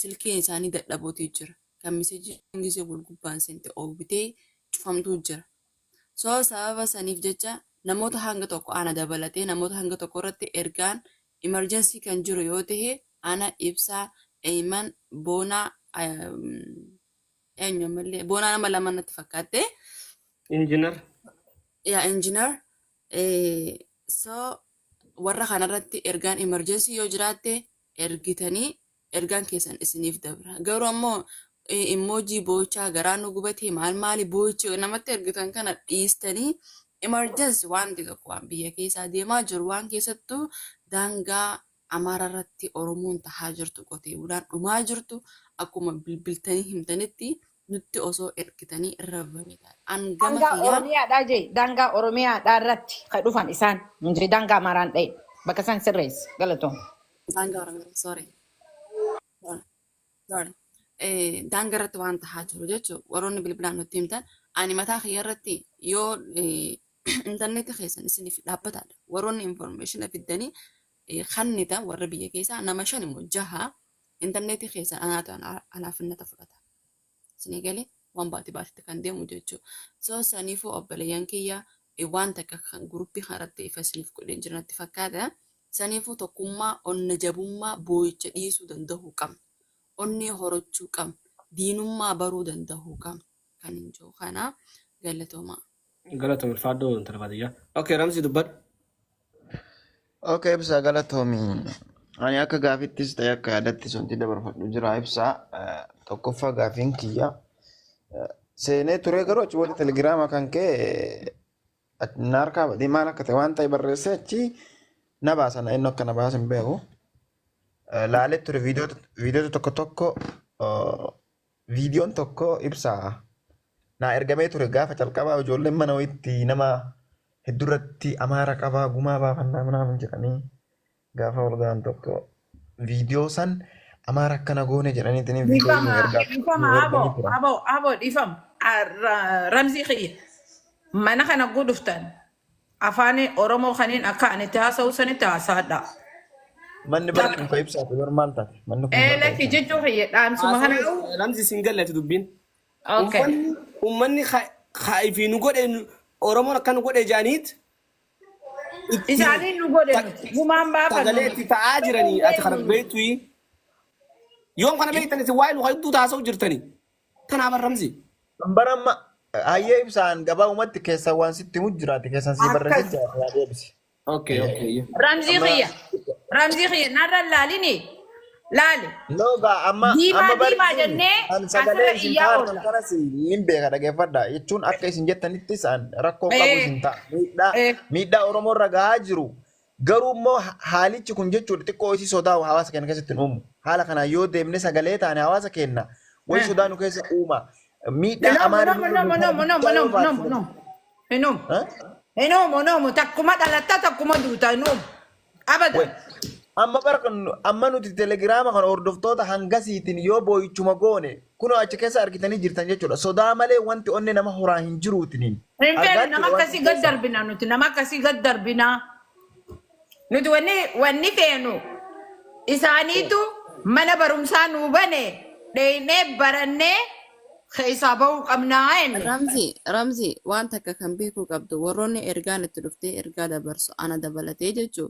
silkiin isaanii dadhabootii jira. Kan miseejii gisee wal gubbaan seente oowwitee cufamtuu jira. So sababa saniif jecha namoota hanga tokko ana dabalatee namoota hanga tokko irratti ergaan emergency kan jiru yoo ta'e ana ibsaa eeyman boonaa Eenyu ammallee boonaa nama lama natti fakkaatte. Injinar. Yaa injinar. So warra kanarratti ergaan emerjensii yoo jiraatte ergitanii ergaan keessan isiniif dabra. Garuu ammoo immoojii boo'ichaa garaa nu gubatee maal maali boo'ichi namatti ergitan kana dhiistanii emerjensi wanti tokko waan biyya keessaa deemaa jiru waan keessattuu daangaa Amaara irratti Oromoon tahaa jirtu qotee bulaan dhumaa jirtu akkuma bilbiltanii himtanitti nutti osoo ergitanii irra bareedaadha. An gama Daangaa kiyyaan Oromiyaadhaa jee daangaa Oromiyaadhaa irratti ka dhufan isaan hin jee daangaa Amaaraan dhahe bakka isaan sirreessi galatoom. daangaa Oromiyaa sorry sorry sorry Eh, daangaa irratti waan tahaa jiru jechuun warroonni bilbilaan nutti himtan ani mataa kiyya irratti yoo eh, Intarneetii keessan isiniif dhaabbataadha. Warroonni information fiddanii eh, kannitan warra biyya keessaa nama shan immoo jaha intarneetii keessan anaatu ana- alaafinnata fudhata. Isinii galee waan baati baatitti kan deemu jechuu. So saniifuu obboleeyyan kiyya eh, waan takka kan guruppii kanarratti ifa isiniif godheen jira natti fakkaata. Saniifuu tokkummaa, onna jabummaa, boo'icha dhiisuu danda'uu qabna. Onnee horachuu qabna. Diinummaa baruu danda'uu qabna. kan jiru kana galatoomaa. Galatoom ulfaadhoo intala baadiyyaa. Okay Ramsii dubbadhu. Okay ibsaa galatoomi. Ani akka gaafittis ta'e akka yaadattis wanti dabarfadhu jira ibsaa. Eh, Tokkoffaa gaafiin kiyya eh, seenee turee garuu achi booda telegiraama kan ka'e eh, na harkaa badee maal akka ta'e waan ta'e barreessee achi na baasa na inni akka na baasa hin beeku. Eh, Laalee ture viidiyoota viidiyoota tokko tokko eh, Viidiyoon tokko ibsa naa ergamee ture gaafa calqabaa ijoolleen mana wayitti nama hedduurratti amaara qabaa gumaa baafannaa minaamin jedhanii gaafa wal ga'an tokko viidiyoo san amaara akkana goone jedhaniitiin viidiyoo Dhifama, nuu ergaa dhifama, nuu abo, erganii turan. abo, abo, dhifama. Ah, ra- Ramzii kiyya. Mana kana guduftan. Afaani Oromoo kaniin akka ani itti haasa'u sanitti haasaadhaa. Manni bara Takka. muka ibsaati bar maal taate? Manni kun Ee bara lakki ibsaati. jechuu kiyya dhaamsuma kana. Haasawni lamsi isin gallati dubbiin. Okay. Ummanni ummanni ka ka ifi nu godhe nu- Oromoon akka nu godhe jaaniit itti Isaanii nu godhe ta- nuti. Gumaan baafannu sagalee nuti. itti ta'aa jiranii ati kana beektuyi. Yoom kana beektan isin waa'ee nu hedduu taasa'u jirtanii. Kanaa bar Ramzii. Kan bara amma hayyee ibsaan gabaabumatti keessan waan sitti himu jiraate keessan sii barreessin Akkas. jiraate yaa deebisi. Okay, okay. yeah. Ramzii Amma kiyya. Ramzii kiyya narra hin laalini. Laali. loogaa amma Diimaa, amma bari diimaa jennee kan sagalee asirra isin iyyaa taartan oolla. kanas nin beeka dhaggeeffadha jechuun akka isin jettanittis an rakkoo qabu Eh. isin ta'a miidhaa Eh. miidhaa Oromoo irra gahaa jiru Garuu immoo haalichi kun jechuudha xiqqoo isii sodaa hawaasa keenya keessatti hin uumu. Haala kanaan yoo deemne sagalee taane hawaasa keenya wayi Eh. sodaa nu keessa uuma. Miidhaa Hinomu, amaarri hinomu, hinomu, hinomu, hinomu, guddaa yoo hinomu, baatu hinomu, hinomu. Hinomu. Ha? Hinomu, hinomu. Takkuma dhalatta, takkuma duuta, hinomu. Abada. Wai. Amma bara kun amma nuti telegiraama kana hordoftoota hangasiitiin yoo boo'ichuma goone Kunoo achi keessa argitanii jirtan jechuudha. Sodaa malee wanti onnee nama horaa hin jiruutiniin. Hin feenu Argaa nama jechuudha waan akkasii san gad keessa. darbina nuti nama akkasii gad darbina. Nuti wanni wanni feenu isaaniitu mana barumsaa nuu bane dheeynee barannee keessaa bahuu qabnaa jenne. Ramzi, Ramzi, waan takka kan beekuu qabdu warroonni ergaan itti dhuftee ergaa dabarsu ana dabalatee jechuu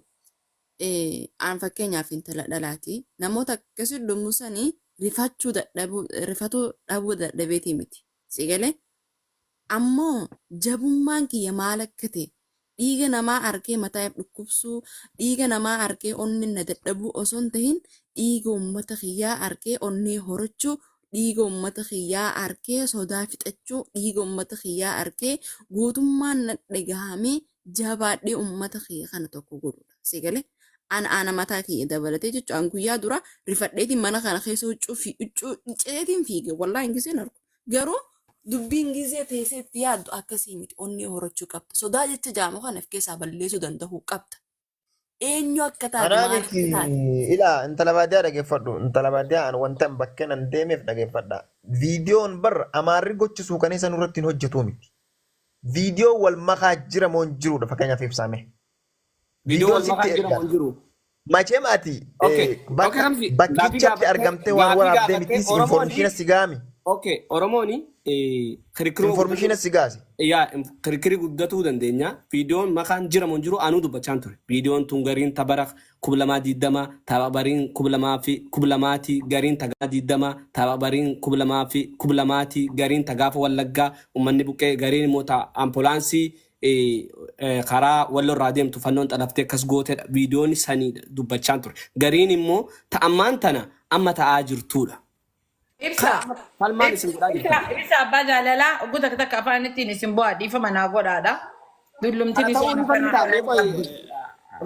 Aan fakkeenyaaf intala dhalaati. Namoota akkasii dhummu sani rifachuu dadhabuu rifatuu dhabuu dadhabeetii miti. Si galee? Ammoo jabummaan kiyya maal akka ta'e dhiiga namaa argee mataa if dhukkubsuu, dhiiga namaa argee onneen na dadhabuu osoo hin tahin dhiiga uummata kiyyaa argee onnee horachuu dhiiga ummata kiyyaa arkee sodaa fixachuu dhiiga ummata kiyyaa arkee gootummaan na dhagahamee jabaadhee ummata kiyya kana tokko godhuudha si galee ana ana mataa kiyya dabalatee jechuun an guyyaa dura rifadheetiin mana kana keessa huccuu fi huccuu dhiceetiin fiige wallaa hin giseen argu garuu dubbiin gisee teessee itti yaaddu akkasii miti onnee horachuu qabda sodaa jecha jaamu kana of keessaa balleessuu danda'uu qabda Eenyu akka taate Anaa maal miti akka taate. ilaa intala baadiyyaa dhageeffadhu. Intala baadiyyaa an wantan bakkeen an deemeef dhageeffadha. Viidiyoon bar amaarri gocha suukaneessa nurratti hin hojjetu miti. Viidiyoo wal makaa jira moo hin jirudha fakkeenyaaf ibsaame. Viidiyoo Viidiyoon wal makaa sitti jira moo ergaan. hin jiru? Macheem ati Okay, eh, okay bakka Ramzi, gaafii bakkichatti gaafattee argamtee waan gaafii waraabdee gaafattee mitii si Oromooni information si gaami. okay Oromooni kirikiroo Informishiina si gaase. yaa kirikiri guddatuu dandeenya viidiyoon makaan jiramu hin jiru anuu dubbachaan ture viidiyoon tun gariin ta bara kuma lamaa diidama ta bariin kuma lamaa fi kuma lamaati gariin ta gaafa diidama ta bariin kuma lamaa fi kuma lamaati gariin ta gaafa wallaggaa ummanni buqqee gariin immoo ta ampoolaansii karaa wallo irraa deemtu fannoon xalaftee akkas gootedha viidiyoon sanii dubbachaan ture gariin immoo ta ammaan tana amma ta'aa jirtuudha. Ibsa. Kanaaf amma falmaan isin godhaa Ibsa, jirtan. ibsa abbaa jaalalaa oggu takka takka afaanittiin isin bu'aa dhiifama naa godhaadha. Dullumti Kana ta'uu ni bishaana kana falmitaa mee har'aan qoyi qabdu.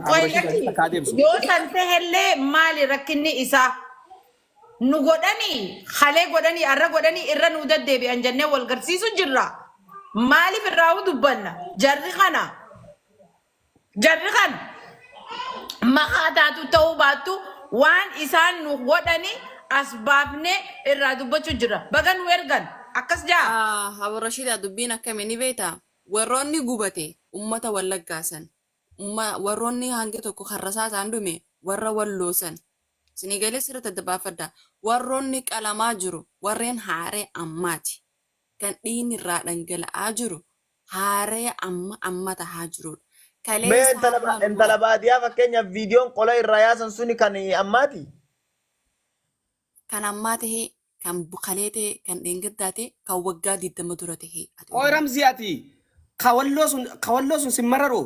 Qoy Abdurashiid lakki Aziz akka adeemsu. yoo san ta'ellee maali rakkinni isaa? Nu godhanii halee godhanii arra godhanii irra nu deddeebi'an jennee wal garsiisu jirra. Maaliif irraa dubbanna? Jarri kana Jarri kan makaa taatu ta'uu baattu waan isaan nu godhani as baafnee irraa dubbachuu jirra. Baga nu ergan. Akkas ja'a. Ah Abo Rashida dubbiin akkami ni beekta warroonni gubate ummata wallaggaa san umma warroonni hangi tokko kan rasaasaan dhume warra walloo san isinii galee sirritti adda baafadha warroonni qalamaa jiru warreen haaree ammaati kan dhiigni irraa dhangala'aa jiru haaraya amma amma tahaa jiruudha. Mee Kaleessa intala hamma ba- intala ammaa baadiyaa fakkeenyaaf viidiyoon qola irraa yaasan suni kan ammaati. kan ammaa tahee, kan bukalee tahee, kan dheengaddaa tahee, kan waggaa 20 dura tahee ati Qoy Oromoo. Ramzii ati kawalloo sun kawalloo sun sin mararoo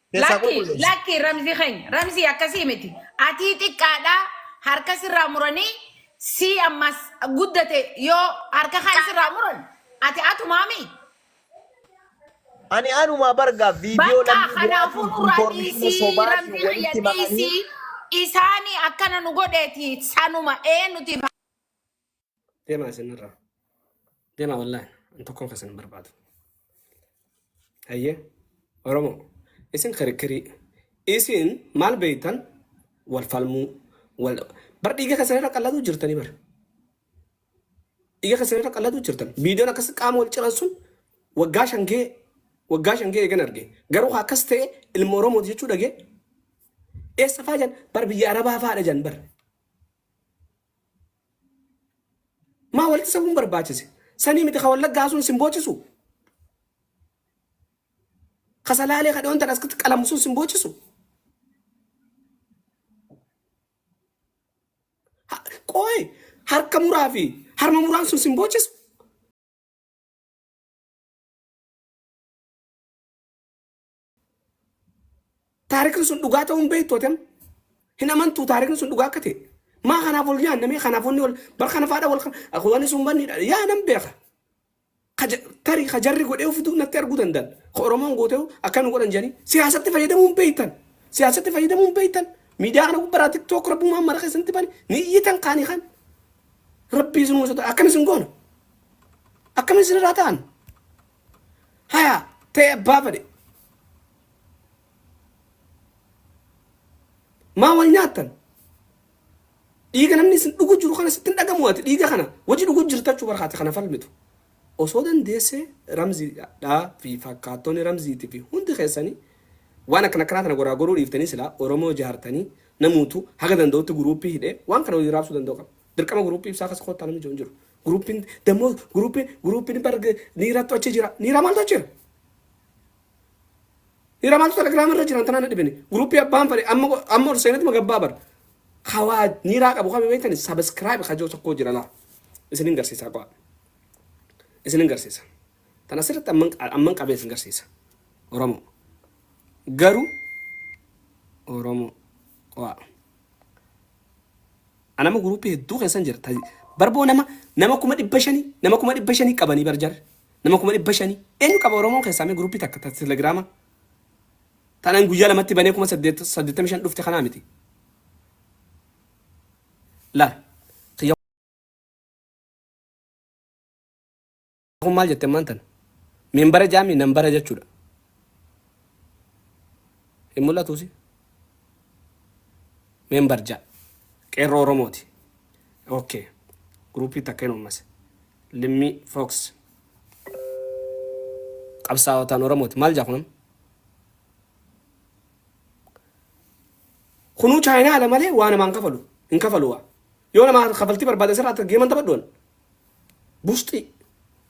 Keessaa Lakki qulqulleessa. lakki ramzi keenya ramzi akkasii miti atii xiqqaadha harka sirraa muranii si ammas guddate yoo harka kan sirraa muran ati atumaami Ani anumaa bargaa viidiyoo bakka lammii kanaafuu biraatiin nurraa infoormeeshinii dhiisii sobaatiin ramzi kiyya walitti maqanii dhiisii isaanii akkana nu godheeti sanuma ee nuti Deemaa isinirraa. Deemaa wallaahi. An tokkoon keessan hin barbaadu. Hayyee. Oromoo. Isin kirikkirii. Isin maal beektan wal falmuu. Wal... Bar dhiiga keessan irra qalladuu jirtanii bar. Dhiiga keessan irra qalladuu jirtan. Viidiyoon akkas qaama wal ciran sun waggaa shan ga'e waggaa shan ga'e eegan arge. Garuu haa akkas ta'e ilma Oromooti jechuu dhagee. Eessa fa'aa jan bar biyya Arabaa fa'aadha jan bar. Maa walitti sabuun barbaachise? Sanii miti ka wallaggaa sun sin boochisu? Ka salaalee ka dhoontan as qalamu sun sin boochisu? Ha- Qooy harka muraa fi harma muraan sun sin boochisu? Taarikni sun dhugaa ta'uu hin beektu atem. Hin amantu taarikni sun dhugaa akka ta'e. Maa kanaaf ol yaadna mee kanaaf wanni ol bar kana faadha wal wanni sun banniidha. Yaa nan beeka. Tari ka jarri godhee ofitu natti arguu danda'an. Ka Oromoon gootee akka nu godhan jedhanii siyaasatti fayyadamuu hin beektan. Siyaasatti fayyadamuu hin beektan. Miidiyaa kana gubbaraa tiktook rabbumaan mara keessanitti bani ni iyyitan kaanii kan. Rabbii isin uumsota akkamis hin goona. Akkamis isin irraa ta'an. Haya ta'e abbaa fedhe. Maa wal nyaattan? Dhiiga namni isin dhugu jiru kana sitti hin dhagamu ati dhiiga kana waji dhugu jirta jechuu barhaati kana falmitu. Osoo dandeessee ramziidhaa fi fakkaattonni ramziitii fi hundi keessanii waan akkana akkanaa kana goraa goruu dhiiftanii silaa Oromoo jaartanii namuutu haga danda'utti guruuppii hidhee waan kana waliin raabsuu danda'u qaba. Dirqama guruuppii ibsaa keessa koottaa namni jiru hin jiru. Guruuppiin dammoo guruuppiin guruuppiin bar niirattu achi jira. Niira maaltu achi jira? Niira maaltu telegiraama irra jiran tanaan dhibini. Guruuppii abbaan fadhe amma amma ol seenetti magabbaa bar. Kawaa niiraa qabu kami beektani sabiskiraayib kajoo tokkoo jira laa. Isin hin garsiisaa qo'a. Isin hin garsiisa. Tan asirratti amman amman qabee isin garsiisa. Oromoo. Garuu Oromoo qo'a. An amma group hedduu keessan jira ta bar boo nama nama kuma dhibba shanii nama kuma dhibba shanii qabanii bar jarri nama kuma dhibba shanii eenyu qaba oromoon keessaa mee group takka ta telegrama tan an guyyaa lamatti banee kuma saddeet saddeettamii shan dhufte kanaa miti la Kun maal jette ammaan tana? Minbara jaami nambara jechuudha. Hin mul'atuusi. Membar ja. Qeerroo Oromooti. Okay. Guruupii takka hin uummas. Limmii Fox. Qabsaa'otaan Oromooti. Maal jaa kunan? Kunuu chaayinaa ala malee waa namaan kafalu. Hin kafalu waa. Yoo namaa kafaltii barbaadan sirraa akka geeman taphadhuwan. Bushxii.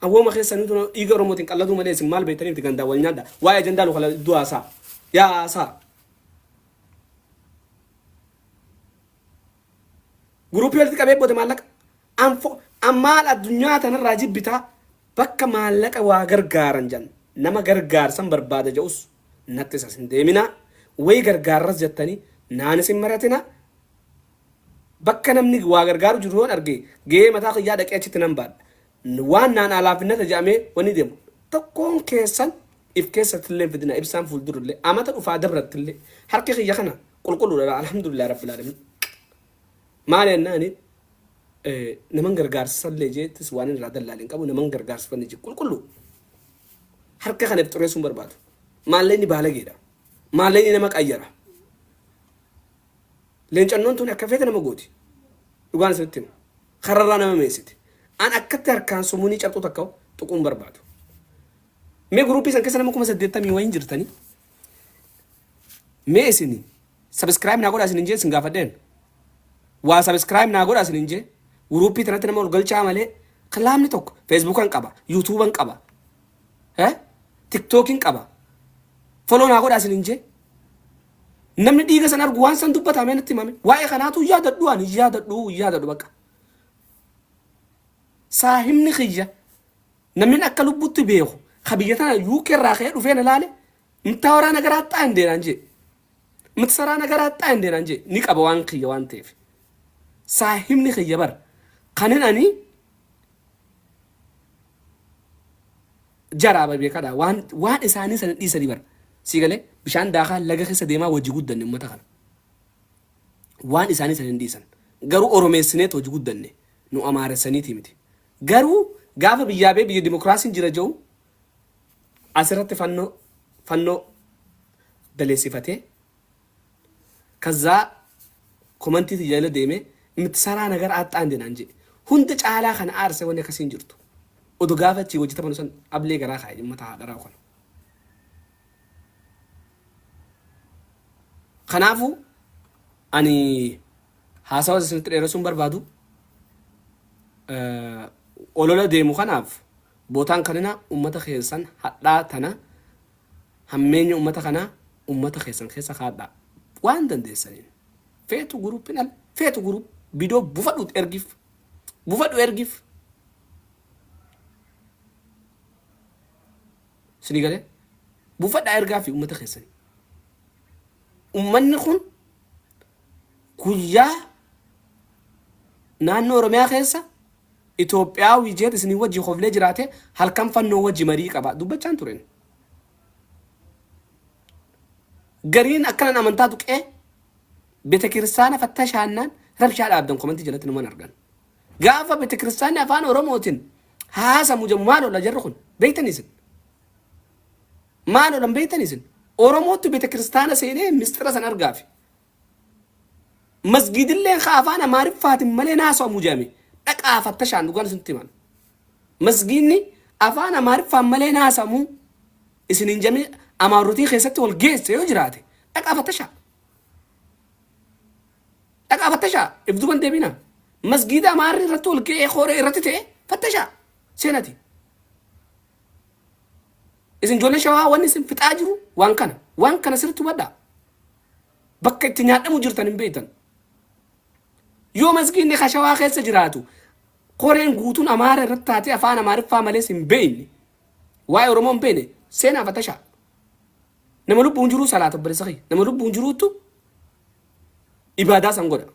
Awwooma keessan hunduu dhiiga Oromootiin qalladuu malee isin maal beektanii miti gandaan wal nyaadha. Waa'ee ajandaa lukala iddoo haasaa. Yaa haasaa. Guruupii walitti qabee booda maallaqa. Anfo maal addunyaa tanarraa jibbitaa bakka maallaqa waa gargaaran jedhan nama gargaarsan barbaada jedhus nattis as hin deeminaa wayi gargaarras jettanii naan isin maratinaa Bakka namni waa gargaaru jiru yoon arge gahee mataa kiyyaa dhaqee achitti nan baadha. Waan naanaa laafinnata jedhamee wani deemu tokkoon keessan if keessattillee hin fidinaa ibsaan fuuldurallee amata dhufaa dabrattillee harki kiyya kana qulqulluudha alhamdulillah rabbil alamin. Maali jennaani naman gargaarsisallee jeettis waan irraa dallaale hin qabu naman gargaarsifanne jee qulqulluu harka kana if xureessuu hin barbaadu. Maallee inni baalageedha. Maallee inni nama qayyara. Leencannoon tuni akka feete nama gooti. Dhugaan isinitti hima. Kararraa nama meensiti. An akkatti harkaan sumunii carxuu takka tuquu hin barbaadu. Mee guruupii san keessa nama kuma saddeettamii wayiin jirtanii? Mee isin sabiskiraayib naa godhaa isin hin jee isin gaafadheen. Waa sabiskiraayib naa godhaa isin hin jee. Guruupii tanatti nama ol galchaa malee kilaamni tokko feesbuukan qaba, yuutuuban qaba, tiktookin qaba. Foloo naa godhaa isin hin jee. Namni dhiiga san argu waan san dubbata amee natti himame. Waa'ee kanaatu yaadadhu ani yaadadhu yaadadhu bakka. Saahibni kiyya namni akka lubbutti beeku ka biyya tana UK irraa ka'ee dhufee na laale mtaa waraa nagaraa xaa hin deenaan jee. Mti saraa nagaraa xaa hin deenaan jee ni qaba waan kiyya waan ta'eef. Saahibni kiyya bar kanin ani Jaraa bar beekadha waan waan isaanii sana dhiisanii bar sii galee bishaan daakaa laga keessa deemaa wajji guddanne ummata kana waan isaanii sana hin dhiisan garuu oromeessineet wajji guddanne nu amaaressaniitii miti garuu gaafa biyyaa bee biyya dimokiraasiin jira ja'u asirratti fannoo fannoo daleessifatee Kazzaa komantii tiyya jala deeme mtsaraa nagar aaxxaa inde naan je'e. Hunda caalaa ka na aarse wanni akkasii hin jirtu. Odo gaafa achii wajji taphanu san ablee garaa kaaye ummata haa dharaa'u kana. Kanaafu ani haasawa isinitti dheeresuu hin barbaadu. Olola deemu kanaaf bootaan kanina ummata keessan hadhaa tana Hammeenya ummata kanaa ummata keessan keessa kaadhaa. Waan dandeessaniin. Feetu group hin al feetu group bidoo bufadhuut ergiif. Bufadhu ergiif. Sinii galee? Bufadhaa ergaafi ummata keessanii. Ummanni kun guyyaa naannoo Oromiyaa keessa Itoophiyaawii jeet isiniin wajji koflee jiraate halkan fannoo wajji marii qaba dubbachaan turen. Gariin akkanan amantaa tuqee betekiristaana fattashaannaan rabshaa dhaabdan komantii jalatti numan argan. Gaafa betekiristaanni afaan Oromootin haasamu jedhu maal oola jarri kun beektan isin? Maal oolan beektan isin? Oromoottu betekiristaana seenee misxira san argaafi Masgiidilleen ka afaan Amaariffaatiin malee hin haasawamu jedhame dhaqa'aa fattashaan dhugaan isinitti himan. Masgiidni afaan Amaariffaan malee hin haasawamu isin hin jedhame Amaarrotii keessatti wal geesse yoo jiraate dhaqa'aa fattashaa. Dhaqa'aa fattashaa if duuban deebina. Masgiida Amaarri irratti wal ga'ee kooree irratti ta'e fattashaa seenati. Isin ijoollee shawaa wanni isin fixaa jiru waan kana. Waan kana sirriitti hubadhaa. Bakka itti nyaadhamu jirtan hin beektan. Yoo masgiinni kashawaa keessa jiraatu koreen guutuun Amaara irratti taatee afaan Amaariffaa malees hin beekne. Waa'ee Oromoo hin beekne seenaa fatashaa. Nama lubbuun jiruu salaata obboleessa kee. Nama lubbuun jiruuttu ibaadaa san godha.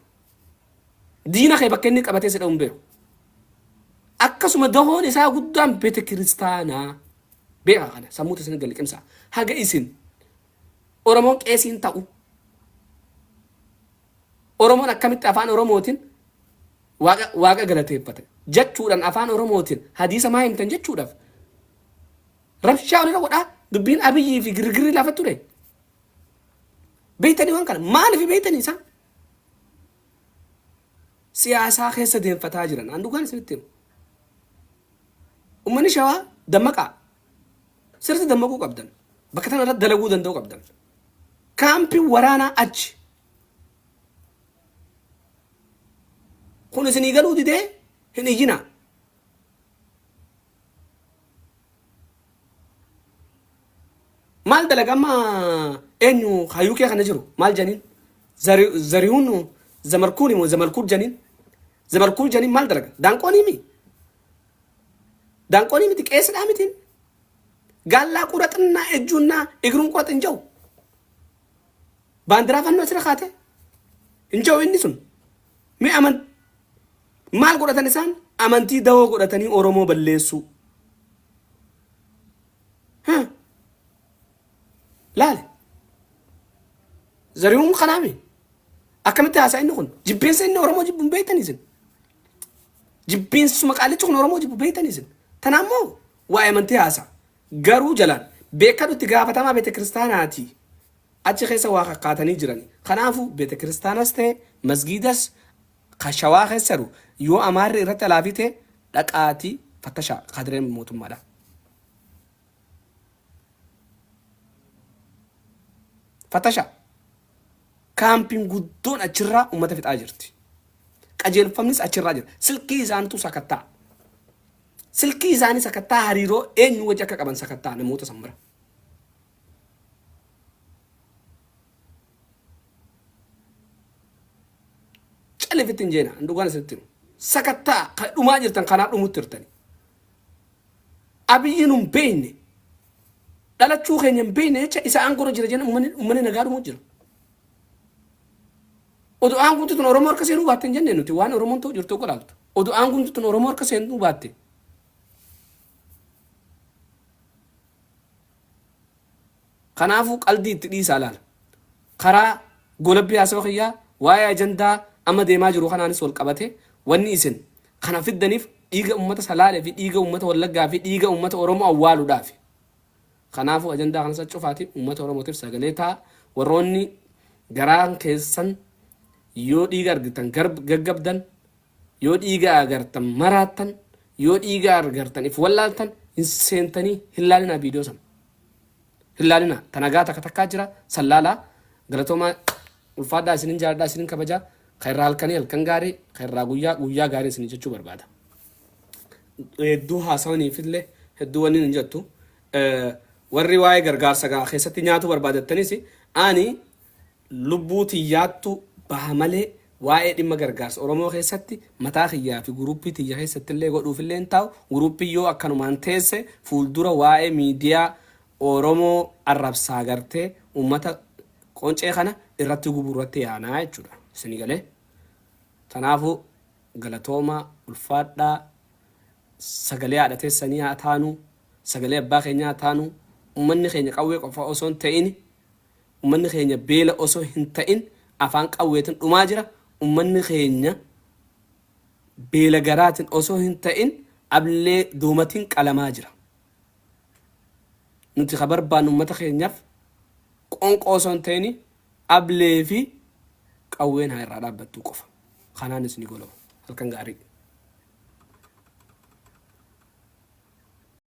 Diina kee bakka inni qabatee si dha'u hin beeku. Akkasuma dahoon isaa guddaan beetekiristaanaa. Beekaa kana sammuutu isin galiqimsaa. Haga isin Oromoon Qeesii hin ta'u. Oromoon akkamitti afaan Oromootin Waaqa Waaqa galateeffata jachuudhan afaan Oromootin hadiisa maa himtan jachuudhaf rabshaa walirra godhaa dubbiin Abiyyii fi girgirri lafa ture. Beektanii waan kana maaliif beektanii isaan? Siyaasaa keessa deemfataa jiran. An dhugaan isinitti himu. Ummanni shawaa dammaqaa. Sirriitti dammaquu qabdan. Bakka tana irratti dalaguu danda'uu qabdan. Kaampiin waraanaa achi. Kun isinii galuu didee hin iyyinaa. Maal dalaga amma eenyu hayyuu kee kana jiru maal janiin? Zari- Zarihuun zamarkuun immoo zamarkuun janiin? Zamarkuun janiin maal dalaga? Daanqoonii mii? Daanqoonii miti qeessidhaa mitiin. Gaallaa qura xinnaa ejjuunnaa igruun qura xinja'u. Baandiraa fannoo asirra kaate hin ja'u inni sun. Mee aman maal godhatan isaan amantii dawoo godhatanii Oromoo balleessuu. Huh. Laale. Zarihuun kanaami. Akkamitti haasaa inni kun? Jibbeessa inni Oromoo jibbuun beektan isin. Jibbiinsuma qaallichi kun Oromoo jibbu beektani isin. Tana ammoo waa'ee amantii haasa. Garuu jalaan beekadhu itti gaafatamaa beetekiristaanaati. Achi keessa waa kakkaatanii jirani. Kanaafu beetekiristaanas ta'e masgiidas ka shawaa keessa jiru yoo amaarri irratti alaafii ta'e dhaqaati fattashaa kaadireen mootummaadha. Fatasha. Kaampiin guddoon achirraa uummata fixaa jirti. Qajeelfamnis achirraa jira. Silkii isaanitu sakatta'a. Silkii isaanii sakatta'a hariiroo eenyu wajji akka qaban sakatta'a namoota san bira. Callifitti hin jeena. Dhugaan isinitti himu. Sakatta'a kan dhumaa jirtan kanaa dhumutti jirtani. Abiyyi nu hin beekne, dhalachuu keenya hin beekne jecha isa aangorra jira jenna uummanni nagaa dhumuu jira. Odoo aanguutti tun Oromoo harka seenuu baatte hin jenne nuti waan Oromoon ta'u jirtu godhaaftu. Odoo aanguutti tun Oromoo harka seenuu baatte. Kanaafuu qaldii itti dhiisaa laala. Karaa goolabbii haasawa kiyyaa waa'ee ajandaa amma deemaa jiru kanaanis wal qabatee wanni isin kana fiddaniif dhiiga ummata Salaalee fi dhiiga ummata Wallaggaa fi dhiiga ummata Oromoo awwaaluudhaafi. Kanaafuu ajandaa kanas cufaatii ummata Oromootiif sagalee ta'aa. Warroonni garaan keessan yoo dhiiga argitan gaggabdan Yoo dhiiga agartan maraattan yoo dhiiga argartan if wallaaltan hin seentanii hin laalinaa viidiyoo sana hin laalinaa ta nagaa takka takkaa jira san laalaa galatoomaa ulfaadhaa isinin jaaladhaa isinin kabajaa ka irraa halkanii halkan gaarii ka irraa guyyaa guyyaa gaarii isin jechuu barbaada hedduu haasawaniifillee hedduu wanni hin jettu Eh, warri waa'ee gargaarsa gaa keessatti nyaatuu barbaadattanis ani Lubbuu tiyyaattu baha malee waa'ee dhimma gargaarsa Oromoo keessatti mataa kiyyaa fi guruuppii tiyya keessatti illee godhuuf illee hin taa'u, guruuppiin yoo akkanumaan teesse fuuldura waa'ee miidiyaa Oromoo arrabsaa gartee uummata qoncee kana irratti gubuu irratti yaana jechuu dha. Isinii galee? Tanaafuu galatoomaa, ulfaadhaa, sagalee haadha teessanii haa taanu, sagalee abbaa keenyaa haa taanu, uummanni keenya qawwee qofa osoo hin ta'ini, Ummanni keenya beela osoo hin ta'in afaan qawweetin dhumaa jira. Ummanni keenya beela garaatin osoo hin ta'in ablee doomatin qalamaa jira. Nuti ka barbaannu ummata keenyaf qoonqoo osoo hin ta'in ablee fi qawween haa irraa dhaabbattuu qofa. Kanaanis ni golaba. Halkan gaarii.